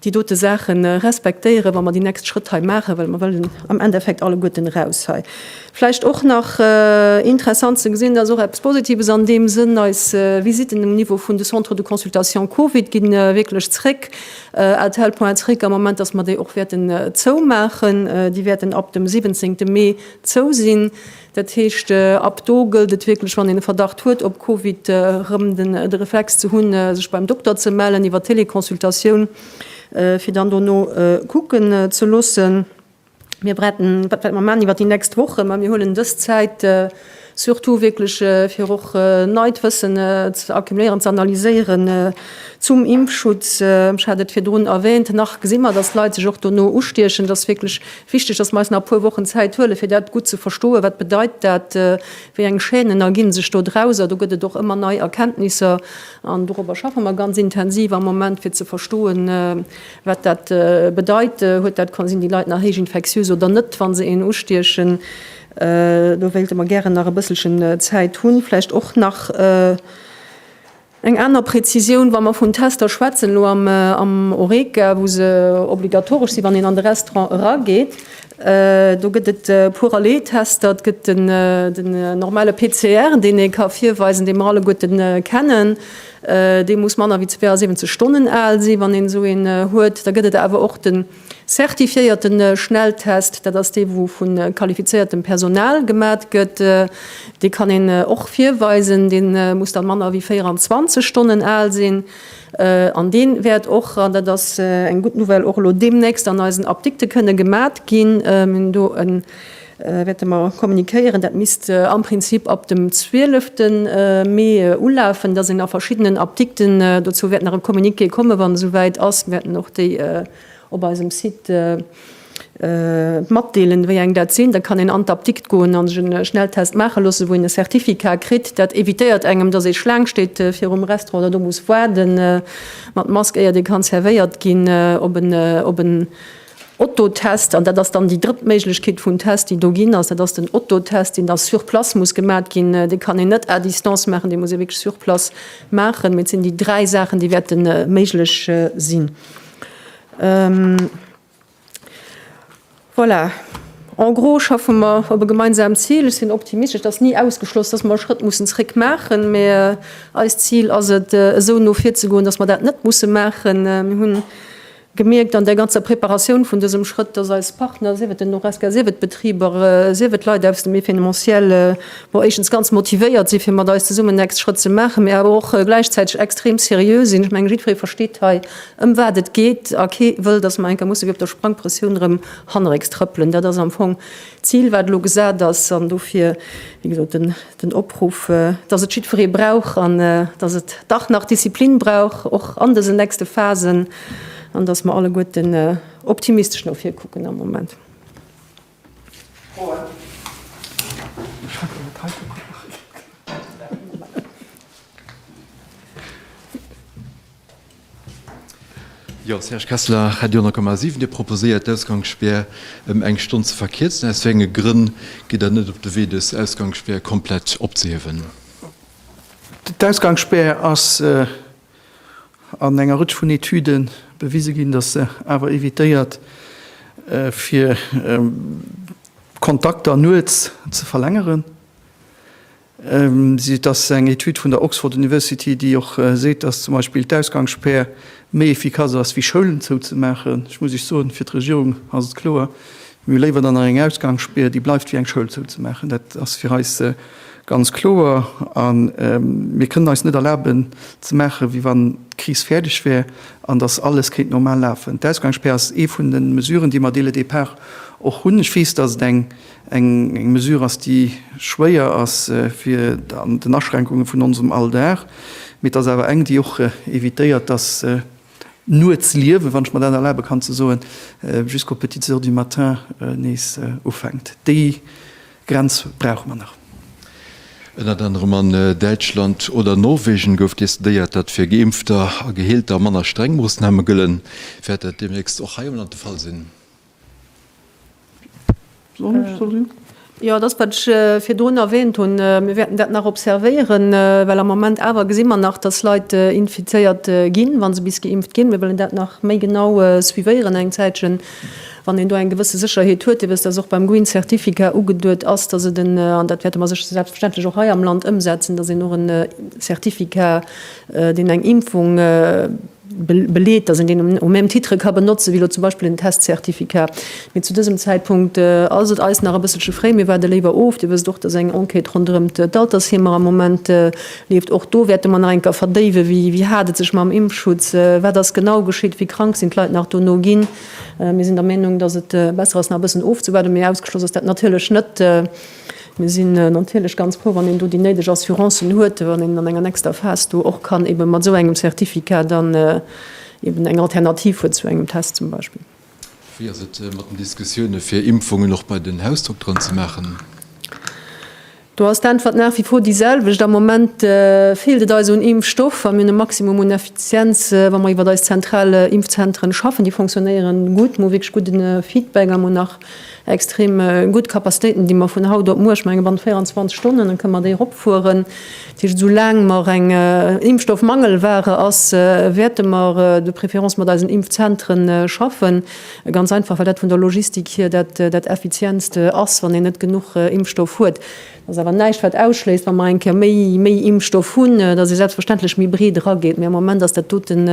déi dote Saache respektéieren, wa mer déi nächst Schrëtt hei maachen, well mer wëllen am Endeffekt alleguerten eraus hei. Vläicht och nach interessant ze gesinn, dat ass och eppes Positives an deem Sënn, Eis Visitten um Niveau vun de Centres de consultation Covid ginn wierklech zréck. Rtl. Point zréck am Moment, dass mer déi och wäerten zoumaachen. Déi wäerten ab dem 17 Mee zou sinn. Dat heescht, ab do gëllt et wierklech, wann een e Verdacht huet op Covid, erëm den de Reflex ze hunn, sech beim Dokter ze mellen iwwer Teleconsultatioun, fir dann dono kucken ze loossen. Mir bereeden, wat wäerte mer maachen iwwert déi nächst Wochen, mä mir huelen dës Zäit surtout wierklech, fir och neit Wëssen ze accumuléieren, ze analyséieren zum Impfschutz. Ech hat et virdrun erwähnt, nach gesi mer, dass d'Leit sech och dono ustiechen. Et ass wierklech wichtig, dass mer eis nach e puer Wochen Zäit huelen, fir dat gutt ze verstoen, Wat bedeit dat? Wéi eng Chaînen erginn sech do draus? A do gëtt et och ëmmer nei Erkenntnisser. An dorobber schaffe mer ganz intensiv am Moment, fir ze verstoen, Wat dat bedeit, huet dat kon sinn déi Leit nach héich infektiös oder net, wa se een ustiechen. Do wéilte mer gären nach e bësselchen Zäit hunn. Vläicht och nach eng aner Präzisioun, wa mer vun Tester schwätzen elo am Horeca, wou se obligatoresch sinn, wann een an de Restaurant erageet. Do gëtt et e puer Relais Tester, et gëtt den normale PCR, deen ee ka virweisen, dee mer alleguerte kennen, Dee muss manner wéi 72 Stonnen al sinn, wann een esou een huet. Da gëtt et awer och de zertifiéierte Schnelltest. Dat ass dee wou vu qualifizéiertem Personal gemat gëtt. Dee kann een och virweisen. Dee muss da manner wéi 24 Stonnen al sinn. An dee wäert och, an dat ass eng gutt Nouvelle, och elo deemnächst an eisen Apdikte kënne gemat ginn. Mir hunn do e. wäerte mer kommuniquéieren. Dat misst am Prinzip ab dem 12. Mee ulafen, dass een a verschiddenen Apdikten dozou wäert nach e Communiqué komme wann esou wäit ass. Mir wäerten och déi op eisem Site matdeelen, wéi eng dat sinn. Da kann een an d'Apdikt goen a sech e Schnelltest maache loosse wou een e Certificat kritt. Dat evitéiert engem, dass ee Schlaang steet virum Restaurant oder do muss waarde mat Mask éiert ee kann zervéiert ginn op en op en Otto-Test, an dat ass dann déi drëtt Méiglechkeet vun Test, déi do ginn ass, dat ass den Otto-Test, deen da sur place muss gemat ginn. Dee kann een net à distance maachen, dee muss ee wierklech sur place maachen. Mee et sinn déi dräi Saachen, déi wäerte méiglech sinn. Voilà, en gros schaffe mer op e gemeinsamt Zil. Ech sinn optimistesch. Et ass ni ausgeschloss, dass mer e Schrëtt mussen zréck maachen, mee eist Zil ass et, esou no vir ze goen, dass mer dat net musse maachen. Mir hunn Gemierkt an der ganzer Preparatioun vun dësem Schrëtt, dass eis Partner, sief et den Horesca, sief et d'Betriber, sief et d'Leit aus dem Événementiel, bon, éischtens ganz motivéiert sinn, fir mat eis zesummen den nächste Schrëtt ze maachen, mee awer och gläichzäiteg extrem seriö sinn. Ech mengen, jiddweree versteet hei, ëm wat et geet, a kee wëll, dass mer eng Kéier musse wéi op der Sprangpressioun erëm hannerécks trëppelen. Dat ass am Fong d'Zil, wat elo gesat ass, an dofir, wéi gesot, den Den Opruff, dass et jiddferee brauch an dass et dach nach Disziplin brauch, och an dësen nächste Phasen, an dass mer alleguerten optimistesch no vir kucken am Moment. Froen? Jo, Serge Kessler, Radio 10,7. Dir proposéiert d'Ausgangsspär ëm eng Stonn ze verkierzen. Aus wéi enge Grënn gitt Der net op de Wee dës Ausgangsspär komplett opzehiewen? D'Ausgangsspär ass an enger Rëtsch vun Etüde bewise ginn, datt se awer evitéiert fir Kontakter nuets ze verlängeren. Et ass eng Etüd vun der Oxford University, déi och seet, datt zum Beispill d'Ausgangsspär méi efficace ass wéi Schoulen zouzemaachen. Ech muss Iech soen, fir d'Regierung ass et kloer, mir hu léiwer dann nach eng Ausgangsspär, déi bleift, wéi eng Schoul zouzemaachen. Dat ass fir eis ganz kloer. A mir kënnen eis net erlaben ze maachen, wéi wann d'Kris fäerdeg wär an datt alles kéint normal lafen. D'Ausgangsspär ass ee vun de Mesuren, déi mer dès le départ och hunn. Ech weess, datt et eng Eng Mesure ass, déi schwéier ass fir den Aschränkunge vun onsem Alldag, mee et ass awer eng, déi och evitéiert, dass d'Nuetsliewe, wann ech mer dat erlabe kann ze soen, jusqu'aux petites heures du matin nees ufänkt. Déi Grenz brauche mer nach. Ënnert anerem an Däitschland oder Norwegen gouf decidéiert, datt fir Geimpfter a Geheelter manner streng Moossname gëllen. Wäert dat deemnächst och hei am Land de Fall sinn? Jo, et ass, wat ech virdrun erwähnt hunn. Mir wäerten dat nach observéieren, well am Moment awer gesi mer nach, dass Leit infizéiert ginn, wa se bis geimpft ginn. Mir wëllen dat nach méi genau suivéieren eng Zäitchen, wann een do eng gewësse Sécherheet huet. Dir wësst, dass och beim Green Certificat ugeduet ass, dass et en, an dat wäerte mer selbstverständlech och hei am Land ëmsetzen, dass een och e Certificat, deen eng Impfung beleet, dass een deen au même titre ka benotzen, wéi elo zum Beispill en Test-Certificat. Mee zu dësem Zäitpunkt ass et eis nach e bësselche fréi. Mir waarde léiwer of. Dir wësst och, dass eng Enquête ronderëm d'Altersheemer am Moment leeft. Och do wäerte mer nach eng Kéier verdéiwen, wéi hat et sech mam Impfschutz, wat ass genau geschitt, wéi krank sinn d'Leit nach dono ginn. Mir sinn der Meenung, dass et besser ass, nach e bëssen ofzewaarden. Mee ausgeschloss ass dat natierlech net. Mir sinn natierlech ganz frou, wann een do déi néideg Assurancen huet, wann een an enger nächster Phas do och kann eebe mat esou engem Certificat dann eeben eng Alternativ huet zu engem Test zum Beispill. Wéi ass et mat den Diskussioune fir Impfungen och bei den Hausdokteren ze maachen? Do ass d'Äntwert nach wie vor déi selwecht. Am Moment feelt et eis un Impfstoff a mir hunn e Maximum un Effizienz, wa mer iwwert eis zentral Impfzentren schaffen. Déi fonctionnéieren gutt, mir hu wierklech gudde Feedback a mir hunn nach Extrem gutt Capacitéiten, déi mer vun haut op muer, ech menge bannent 24 Stonnen kënne mer déi eropfueren. Dat heescht, esou laang mer eng Impfstoffmangelware ass, wäerte mer de préférence mat eisen Impfzentre schaffen. Ganz einfach, well dat vun der Logistik hier dat effizientst ass, wann een net genuch Impfstoff huet. Dat ass awer näischt, wat ausschléisst, wa mer eng Kéier méi Impfstoff hunn, datt ee selbstverständlech méi breet erageet. Mä am Moment ass dat doten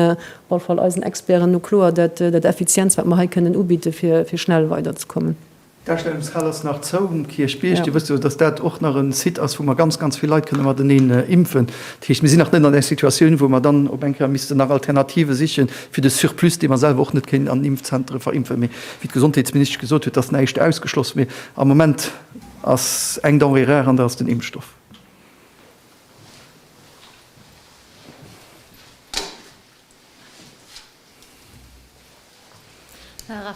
Op alle Fall eisen Experten no kloer dat dat Effizienz wat mer hei kënnen ubidde fir fir schnell weiderzekommen. D'Ausstellungshal ass nach zou um Kierchbierg. Dir wësst jo, dass dat och nach e Site ass, wou mer ganz, ganz vill Leit kënne mateneen impfen. Dat heescht, mir sinn nach net an där Situatioun, wou mer dann op eng Kéier missten nach Alternative siche fir de Surplus, dee mer selwer och net kéinten an den Impfzentere verimpfen. Mee wéi d'Gesondheetsministesch gesot huet, ass näischt ausgeschloss. Mee am Moment ass eng Denrée rare an dat ass den Impfstoff.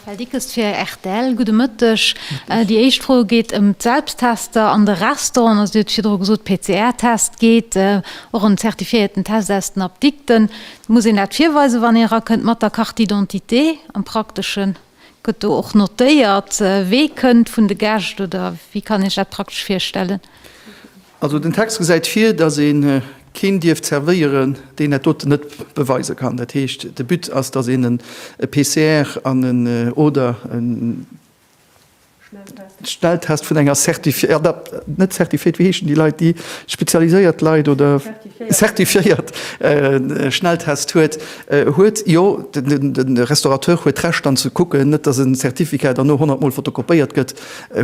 Raphaël Dickes fir rtl, Gudde Mëtteg. Déi éischt Fro geet ëm d'Selbsttester an de Restauranten. Also Dir hutt virdru gesot, PCR-Test geet, och en zertifiéierten Test aus den Apdikten. Muss een dat virweisen, wann ee erakënnt mat der Carte d'identité? Am Prakteschen, gëtt do och notéiert, wee kënnt vun de Gäscht oder wéi kann ee sech dat praktesch virstellen? Also den Text gesäit vir, datt ee keen dierft zervéieren, deen dat doten net beweise kann. Dat heescht, de But ass, datt een e PCR an en oder e Schnelltest vun enger net certifiéiert, wéi heeschen déi Leit, déi spezialiséiert Leit oder certifiéiert Schnelltest huet, huet. Jo, de Restaurateur huet d'Recht dann ze kucken, net datt en Certificat dann no 100 mol fotokopéiert gëtt,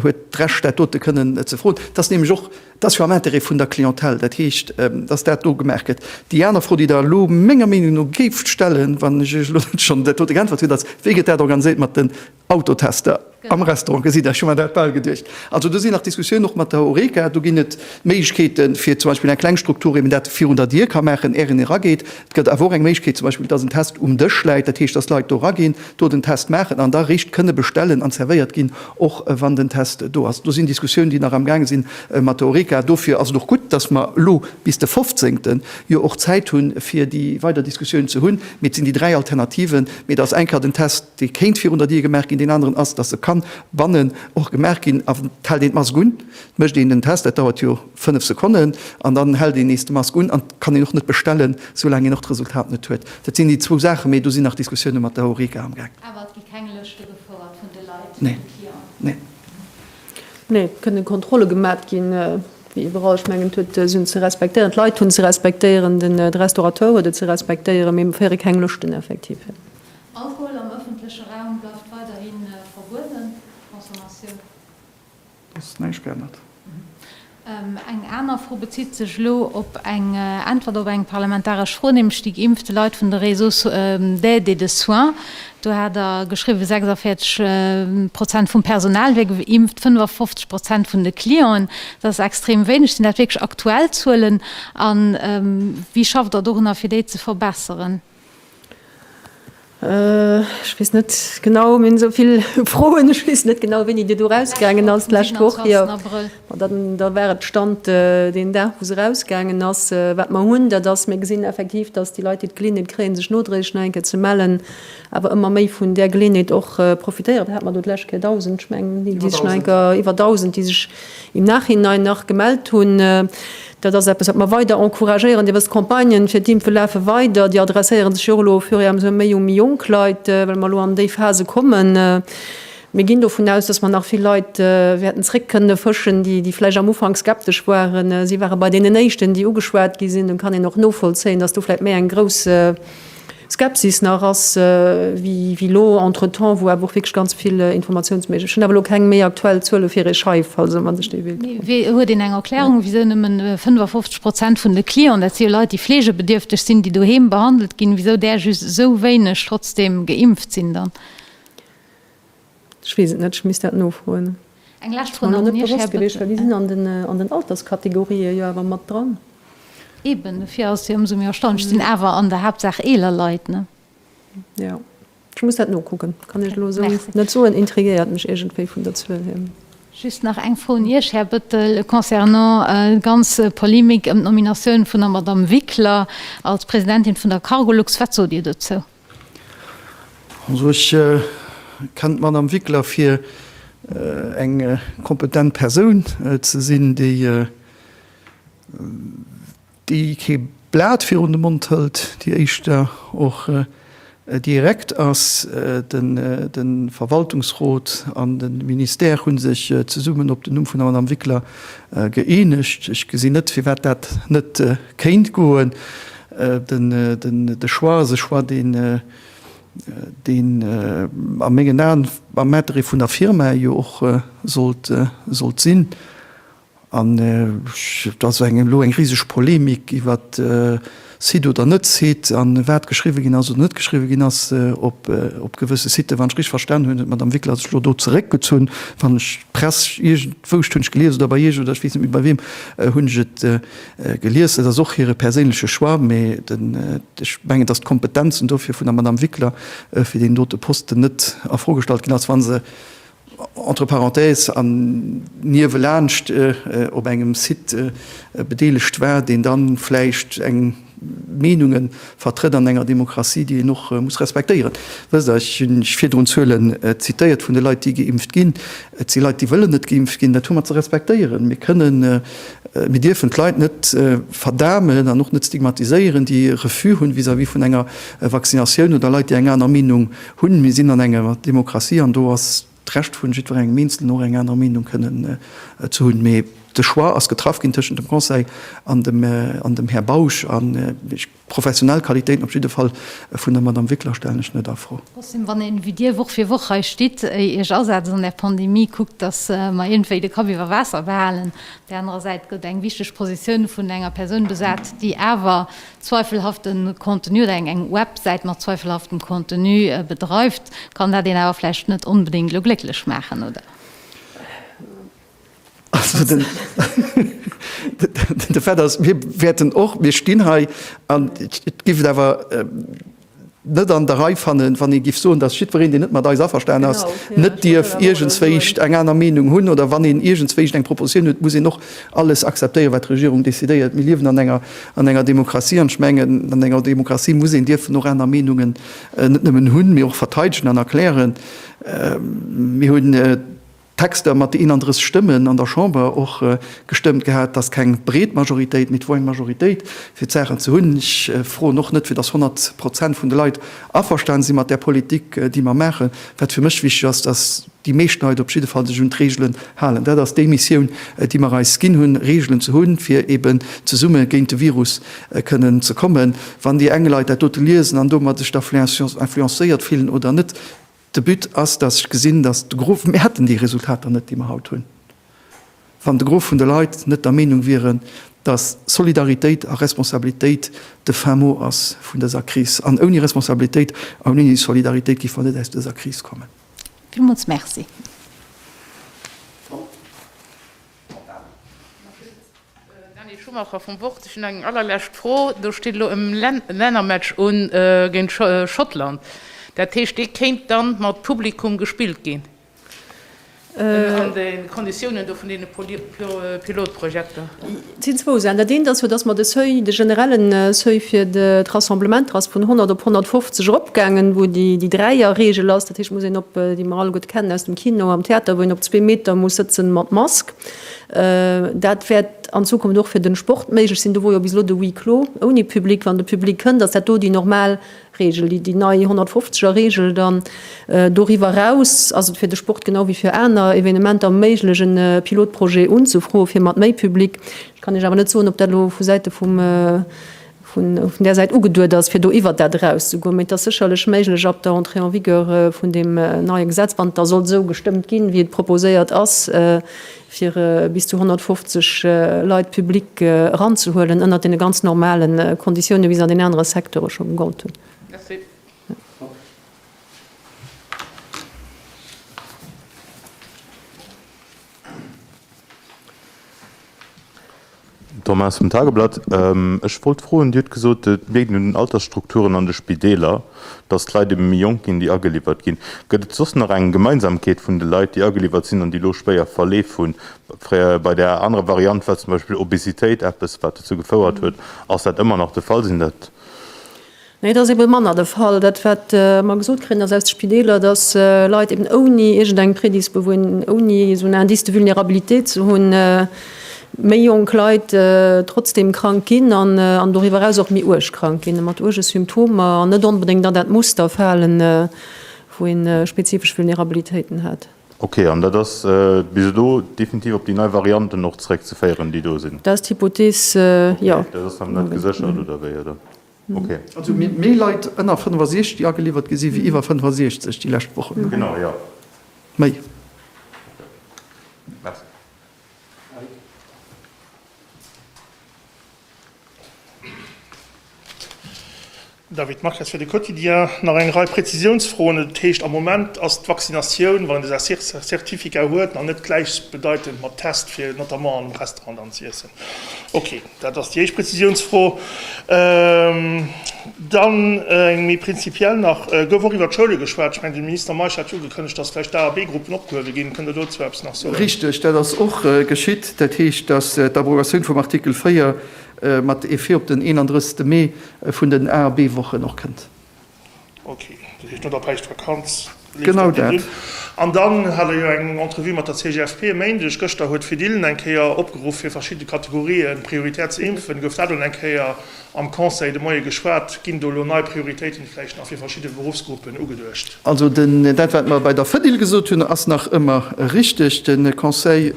huet. d'Recht dat dote kënnen ze froen. Dat ass nämlech och, dat ass jo am Intérêt vun der Clientèle, dat heescht, dass dat do gemaach gëtt. Déi aner Fro, déi Der elo menger Meenung no géift stellen, wann ech Iech elo net schonn dat dote geäntwert hunn, ass, Wéi gëtt dat organiséiert mat den Autotester am Restaurant? Gesitt Der, ech hu mer dat bal geduecht. Also do sinn nach Diskussiounen, och mat der Horeca. Do ginn et Méiglechkeeten, fir zum Beispill eng kleng Struktur, wéi een dat virun der Dier ka maachen, är een erageet, Et gëtt awer och eng Méiglechkeet, zum Beispill, dass en Test um Dësch läit, dat heescht, dass Leit do eraginn, do den Test maachen an da réischt kënne bestellen an zervéiert ginn, och wann den Test do ass. Do sinn Diskussiounen, déi nach amgaange sinn mat der Horeca. Dofir ass et och gutt, dass mer elo bis de 15. jo och Zäit hunn, fir déi weider Diskussiounen ze hunn. Mee et sinn déi dräi Alternativen. Mee et ass enker den Test, dee kéint virun der Dier gemaach ginn. Deen aneren ass, dass e ka bannen och gemaach ginn. A wat hält een d'Mask un? Mécht een den Test? Dat dauert jo. 5 Sekonnen an dann hält een nees de Mask un an kann een och net bestellen sou laang een och d'Resultat net huet. Dat sinn déi zwou Saachen, mee do sinn nach Diskussioune mat der Horeca am gaang. Awer et gi keng Lëschte gefouert vun de Leit, vun de Clienten? Nee, et kënnen Kontrolle gemat ginn, wéi iwwerall. Ech mengen d'Huete sinn ze respektéieren, d'Leit hunn ze respektéieren, de Restaurateur huet et ze respektéieren, mee mir féiere keng Lëschten effektiv. Alkohol am ëffentleche Raum bleift weiderhi verbueden, d'Consommatioun? Eng aner Fro bezitt sech elo op eng Äntwert op eng parlamentaresch Fro, nämlech déi geimpfte Leit vun de Réseaux d'aide et de soins. Do hat Der geschriwwen, 46 Prozent vum Personal wier geimpft, 55 Prozent vun de Clienten. Dat ass extrem wéineg. Sinn dat wierklech aktuell Zuelen? A wéi schafft Der dorunner, fir déi ze verbesseren? Ech weess net genau, mir hunn esou vill Froen, ech weess net genau, wéini Dir do erausgaangen ass d'lescht Woch. Jo, ma dann, da war et de Stand deen Dag, wou se erausgaangen ass. Wat mer hunn, dat ass, mir gesinn effektiv, dass déi Leit, déi d'Geleeënheet kréien, sech nodréiglech nach eng Kéier ze mellen, awer ëmmer méi vun där Geleeënheet och profitéieren. Wat hat mer do d'lescht Kéier? Dausend, ech mengen, déi sech nach eng Kéier, iwwer Dausend, déi sech im Nachhinein nach gemellt hunn. Dat ass eppes, wat mer weider encouragéieren. Dir wësst, d'Campagnen fir d'Impfe lafe weider. Déi adresséiere sech jo och elo au fur et à mesure méi un méi jonk Leit, well mer elo an déi Phase kommen. Mir ginn dovun aus, dass mer nach vill Leit wäerten zréck kënne fëschen, déi vläicht am Ufank skeptesch waren. Si ware bei deenen Éischten, déi ugeschwat gi sinn. Dann kann een och novollzéien, dass do vläicht méi eng grouss, Skepsis nach ass wéi lo entretemps, wou awer och wierklech ganz vill Informatiounsméiglech. Ech hunn awer elo keng méi aktuell Zuele fir ee Schei, falls e sech dee wéilt froen. Mee huet een eng Erklärung, wisou nëmme 55 Prozent vun de Clienten, dat si jo Leit, déi fleegebedierfteg sinn, déi doheem behandelt ginn, wisou där just esou wéineg trotzdeem geimpft sinn dann? Ech weess et net, ech misst dat nofroen. Eng lescht Fro nach un Iech, Här Bëttel. Déi sinn an den Alterskategorië jo awer mat dran. Eben, dofir ass et jo ëmsou méi erstaunlech. Et sinn awer an der Haaptsaach eeler Leit, ne? Jo, ech muss dat nokucken. Kann Iech elo esou net soen. Intriguéiert mech iergendwéi vun der Zuel hier. Just nach eng Fro un Iech, Här Bëttel, concernant déi ganz Polemik ëm d'Nominatioun vun der Madamm Wickler als Presidentin vun der Cargolux. Wat sot Dir dozou? Also ech kennen d'Madame Wickler fir eng kompetent Persoun ze sinn, déi kee Blat virun de Mond hëlt, déi éischter och direkt ass. De Verwaltungsrot an de Ministère hu sech zesummen op den Numm vun der Madame Wickler gëeenegt. Ech gesinn net, firwat dat net kéint goen. De Choix ass e Choix, deen a mengen Aen am Intérêt vun der Firma jo och sollt sinn. An et ass elo eng riseg Polemik iwwer Site oder net Site an wat geschriwwe ginn ass oder net geschriwwe ginn ass op gewësse Siten. Wann ech richteg verstanen hunn, huet d'Madame Wickler sech elo do zeréckgezunn. Wann ech d'Press, iergendwou, ech hunn et gelies oder bei Iech oder ech weess net méi bei weem, hunn ech et Gelies, et ass och hire perséinleche Choix, mee ech mengen, datt d'Kompetenzen dofir vun der Madame Wickler fir deen dote Posten net a Fro gestallt ginn ass, wa se entre parenthèses an niewelaanscht op engem Site bedeelegt war, deen da vläicht eng Meenungen Vertritt an enger Demokratie, déi een och muss respektéieren. Wësst Der, ech hunn virdrun Zuelen zitéiert vun de Leit, déi geimpft ginn. Et si Leit, déi wëllen net geimpft ginn. Dat hu mer ze respektéieren. Mir kënnen, mir dierfen d'Leit net verdamen an och net stigmatiséieren, déi e Refus hunn vis-à-vis vun enger Vaccinatioun oder Leit, déi eng aner Meenung hunn. Mir sinn an enger Demokratie an do ass d'Recht vun jiddwerengem Eenzelnen och eng aner Meenung kënnen ze hunn, mee de Choix ass getraff ginn tëschent dem Conseil an dem an dem Här Bausch an ech professionell Qualitéiten op jidde Fall vun der Madame Wickler stellen ech net a Fro. Trotzdem, wann een wéi Dir Woch fir Woch hei stitt, Iech asetzt an der Pandemie, kuckt, dass mer iergendwéi de Kapp iwwer Waasser behalen, op där anerer Säit gëtt eng wichteg Positioun vun enger Persoun besat, déi awer zweifelhafte Contenu oder eng Websäit mat zweifelhaftem Contenu bedreift, kann dat een awer vläicht net onbedéngt elo glécklech maachen, oder? Also den de Fait ass, mir wäerten och, mir stinn hei an et giff et awer, net an der Rei fannen, wann ee giff soen, dass jiddwereen, deen net mat eis averstan ass, net dierf iergendswéischt eng aner Meenung hunn, oder wann een iergendswéischt eng Propositioun huet, muss een och alles akzeptéieren, wat d'Regierung decidéiert. Mir liewen an enger, an enger Demokratie, an ech mengen, an enger Demokratie muss een dierfen och aner Meenungen net nëmmen hunn, mee och verteidegen an erklären. Mir hunn. Texter mat de 31 Stëmmen an der Chamber och gestëmmt gehat. Et ass keng breet Majoritéit, mee et wor eng Majoritéit fir d'Saachen ze hunn. Ech froen och net, fir datt 100 Prozent vun de Leit averstane si mat där Politik, déi mer maachen. Wat fir mech wichteg ass, datt déi meescht Leit op jidde Fall sech un d'Reegelen halen. Dat ass déi Missioun, déi mer eis ginn hunn, Reegelen ze hunn, fir eben zesumme géint de Virus kënnen ze kommen. Wann déi eng Leit dat dote liesen an domat sech da influencéiert fillen oder net, De But ass, dass ech gesinn, dass de Gros, mir hätten déi Resultater net, déi mer haut hunn, wann de Gros vun de Leit net der Meenung wieren, dass Solidaritéit a Responsabilitéit de Fin mot ass vun dëser Kris. An ouni Responsabilitéit an ouni Solidaritéit géife mer net aus dëser Kris kommen. Villmools Merci. Daniel Schumacher vum Wort, Ech hunn eng allerlescht Fro. Do steet elo e Lännermatch un géint Schottland. Dat heescht, dee kéint da mat Publikum gespillt ginn an de Konditiounen do vun deene Pilotprojekter? Et sinn zwou Saachen. Dat eent ass jo, datt mer de Seuil, de generelle Seuil fir d'Rassemblementer ass vun 100 op 150 eropgaangen, wou déi Dräierregel ass. Dat heescht, et muss een op, déi mer alleguerte kennen aus dem Kino, am Theater, wou een op zwee Meter muss sëtzen mat Mask. Dat wäert an Zukunft och fir de Sport méiglech sinn. Do wor jo bis elo de Huis clos ouni Public. Wann de Public kënnt, ass dat do déi normal Reegel, déi déi nei 150 er Reegel. Dann doriwwer eraus ass et fir de Sport genau wéi fir aner Evenementer méiglech en Pilotprojet unzefroen, fir mat méi Public. Ech kann Iech awer net soen, ob dat elo vu Säite vum vun där Säit ugeduet ass, fir do iwwert dat erauszegoen. Mee et ass sécherlech méiglech ab der Entrée en vigueur vun deem neie Gesetz, wann et da sollt esou gestëmmt ginn, wéi et proposéiert ass, fir bis zu 150 Leit, Public, eranzehuelen, ënnert deene ganz normale Konditiounen, wéi se an den anere Secteure scho gegollt hunn. Merci. Thomas vum Tageblatt, Ech wollt froen, Dir hutt gesot, et leet un den Altersstrukturen an de Spideeler, datt d'Leit ebe méi jonk ginn, déi ageliwwert ginn. Gëtt et soss nach eng Gemeinsamkeet vun de Leit, déi ageliwwert sinn an déi elo schwéier Verleef hunn? Bei der anerer Variant war zum Beispill Obesitéit eppes, wat dozou gefouert huet. Ass dat ëmmer nach de Fall? Sinn dat. Nee, et ass eeben manner de Fall. Dat wat mer gesot kréien ass aus de Spideeler, dass Leit eeben ouni iergend eng Prédisposuin, ouni esou en Indice de vulnérabilité ze hunn, méi jonk Leit, trotzdem krank ginn an an doriwwer eraus och méi uerg krank ginn, mat uerge Symptomer an net onbedéngt an dat Muster falen, wou een spezifesch Vulnérabilitéiten hat. Okay, an dat ass bis elo definitiv op déi nei Varianten och zréckzeféieren, déi do sinn? Dat ass d'Hypothees, jo. Okay, dat ass nach net geséchert, oder wéi, oder? Also mir hunn méi Leit ënner 65 ageliwwert gesi wéi iwwer 65 déi lescht Wochen. Genau, jo. Méi. Merci. David Marques fir de Quotidien. Nach eng Rei Prezisiounsfroen. Et heescht am Moment ass d'Vaccinatioun, wann een dee Certificat huet, nach net gläichbedeitend mat Test fir notamment an engem Restaurant dann ze iessen. Okay. Dat ass déi éischt Prezisiounsfro. Dann eng méi prinzipiell nach. Gouf och iwwert d'Schoule geschwat? Ech mengen, de Minister Meisch hat jo ugekënnegt, datt vläicht d'A a B-Gruppen opgehuewe ginn. Kënnt Der dozou eppes nach soen? Richteg, dat ass och geschitt. Dat heescht, datt d'Abrogatioun vum Artikel 4 mat Effet op den 31. Mee vun den A a B-Wochen och kënnt. Ok, dat heescht no der Päischtvakanz leeft dat nees un. An dann hat Der jo eng Entrevue mat der CGFP e Méindeg. Gëschter huet d'Fediln eng Kéier opgeruff, fir verschidde Kategorië prioritär ze impfen. Gouf dat elo eng Kéier am Conseil de Moie geschwat? Ginn do elo nei Prioritéiten vläicht nach fir verschidde Beruffsgruppen ugeduecht? Also dat, wat mer bei der Fedil gesot hunn, ass nach ëmmer richteg. De Conseil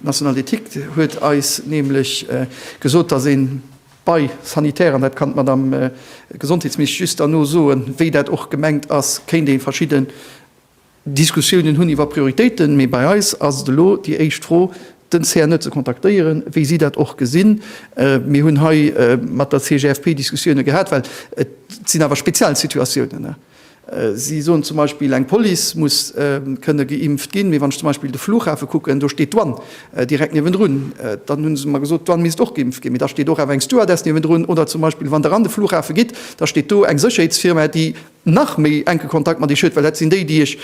national d'éthique huet eis nämlech gesot, datt een, Bei sanitär, an dat kann d'Madame Gesondheetsministesch just derno soen, wéi dat och gemengt ass, kéint ee verschidden Diskussiounen hunn iwwer Prioritéiten. Mee bei eis ass et elo déi éischt Fro, den CNE ze kontaktéieren, wéi si dat och gesinn. Mir hunn hei mat der CGFP Diskussioune gehat, well et sinn awer speziell Situatiounen. Si soen zum Beispill, eng Police muss kënne geimpft ginn. Mee wann ech zum Beispill de Flughafe kucken, do steet d'Douane direkt niewendrun. Dann hu se mer gesot, d'Douane misst och geimpft ginn. Mee da steet och awer eng Stewardess niewendrun. Oder zum Beispill, wann Der an de Flughafe gitt, da steet do eng Sécherheetsfirma, déi nach méi enke Kontakt mat Iech huet, well dat sinn déi, déi Iech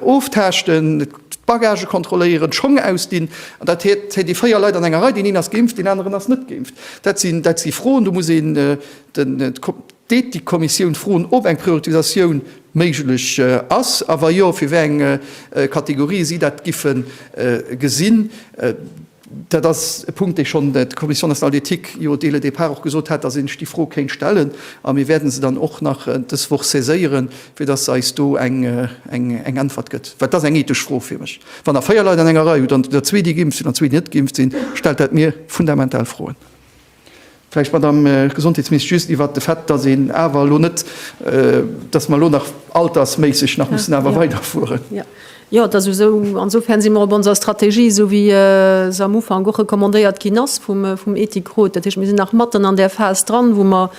oftaaschten, d'Bagagë kontrolléieren, d'Schong ausdinn. An dat heet, hei déi véier Leit an enger Rei, deen een ass geimpft, deen aneren ass net geimpft. Dat si Froen, do muss een de. Deet déi Kommissioun d'Froen op, eng Prioritisatioun méiglech ass, a wa jo, fir wéi eng Kategorië si dat giffe gesinn? Dat ass e Punkt, dee schonn d'Commission nationale d'éthique jo dès le départ och gesot hat, datt een sech déi Fro kéint stellen. A mir wäerte se dann och nach dës Woch saiséieren, fir datt se eis do eng Äntwert gëtt, well et ass eng ethesch Fro fir mech. Wann Der véier Leit an enger Rei hutt an der zwee, déi geimpft sinn, an zwee, déi net geimpft sinn, stellt dat mir fundamental Froen. Vläicht, Madamm Gesondheetsministesch, just iwwert de Fait, dass een awer elo net, dass mer elo nach altersméisseg nach mussen awer weiderfueren. Jo, et ass esou. Insofern si mer op onser Strategie, esou wéi se am Ufank och recommandéiert ginn ass vum Ethikrot. Dat heescht, mir sinn nach matten an där Phas dran, wou mer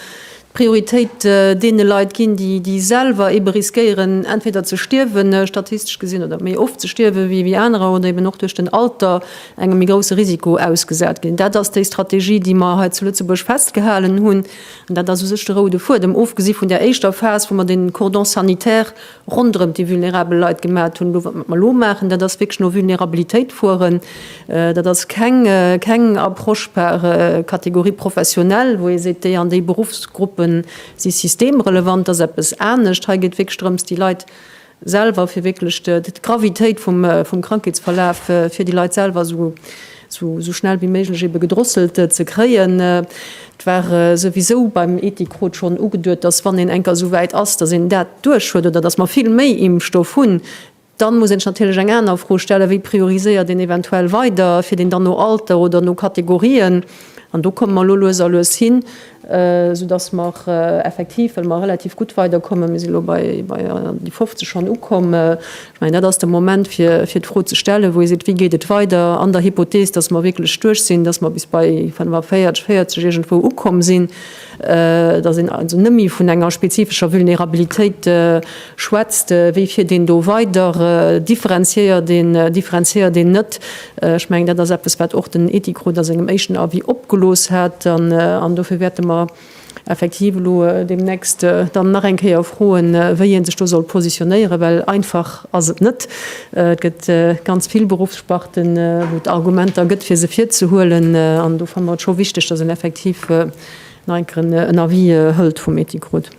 Prioritéit deene Leit ginn, déi selwer eebe riskéieren, entweder ze stierwen, statistesch gesinn, oder méi oft ze stierwen, wéi anerer, oder eeben och duerch den Alter engem méi grousse Risiko ausgesat ginn. Dat ass déi Strategie, déi mer hei zu Lëtzebuerg festgehalen hunn. An dat ass u sech de roude Fuedem, ofgesi vun där éischter Phas, wou mer de Cordon sanitaire ronderëm déi vulnerabel Leit gemat hunn, elo wat mer elo maachen, dat ass wierklech no Vulnerabilitéit fueren, dat ass keng Approche par catégorie professionnelle, wou ee seet, déi an déi Beruffsgruppe si systemrelevant, dat ass eppes anescht. Hei geet et wierklech drëms, déi Leit selwer, fir wierklech d'Gravitéit vum Krankheetsverlaf fir déi Leit selwer esou sou sou schnell wéi méiglech ebe gedrosselt ze kréien. Et war souwisou beim Ethikroot schonn ugeduet, dass wann een enker souwäit ass, dass een dat duerch huet oder dass mer vill méi Impfstoff hunn, dann muss een sech natierlech eng aner Fro stellen, wéi prioriséiert een eventuell weider fir deen dann no Alter oder no Kategorien, an do komme mer elo lues a lues hin. Sou dass mer effektiv, well mer relativ gutt weiderkommen, mir sinn elo bei déi 50 schonn ukomm, ech mengen, dat ass de Moment, fir d'Fro ze stellen, wou ee seet, Wéi geet et weider an der Hypothees, dass mer wierklech duerch sinn, dass mer bis bei 45, 40 iergendwou ukomm sinn, dass een also net méi vun enger spezifescher Vulnerabilitéit Schwätzt, wéi fiert een do weider? Differenziéiert een, differenziéiert een net? Ech mengen, dat ass eppes, wat och den Ethikrot a sengem éischten Avis opgelooss hat. An dofir wäerte mer effektiv elo deemnächst dann nach eng Kéier froen, wéi ee sech do soll positionéieren, well einfach ass et net. Et gëtt ganz vill Beruffssparten, wou et Argumenter gëtt, fir se virzehuelen. An do fanne mer et scho wichteg, dass een effektiv nach eng Kéier en Avis hëlt vum Ethikrot.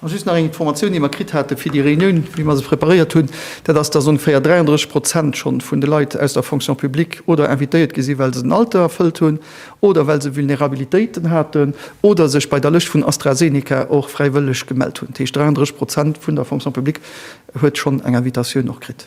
An just nach eng Informatioun, déi mer kritt hate fir déi Reunioun, wéi mer se preparéiert hunn, dat ass, dass ongeféier 33 Prozent schonn vun de Leit aus der Fonction publique oder invitéiert gi sinn, well se den Alter erfëllt hunn oder well se Vulnerabilitéiten haten oder sech bei der Lëscht vun AstraZeneca och fräiwëlleg gemellt hunn. Dat heescht, 33 Prozent vun der Fonction publique huet schonn eng Invitatioun och kritt.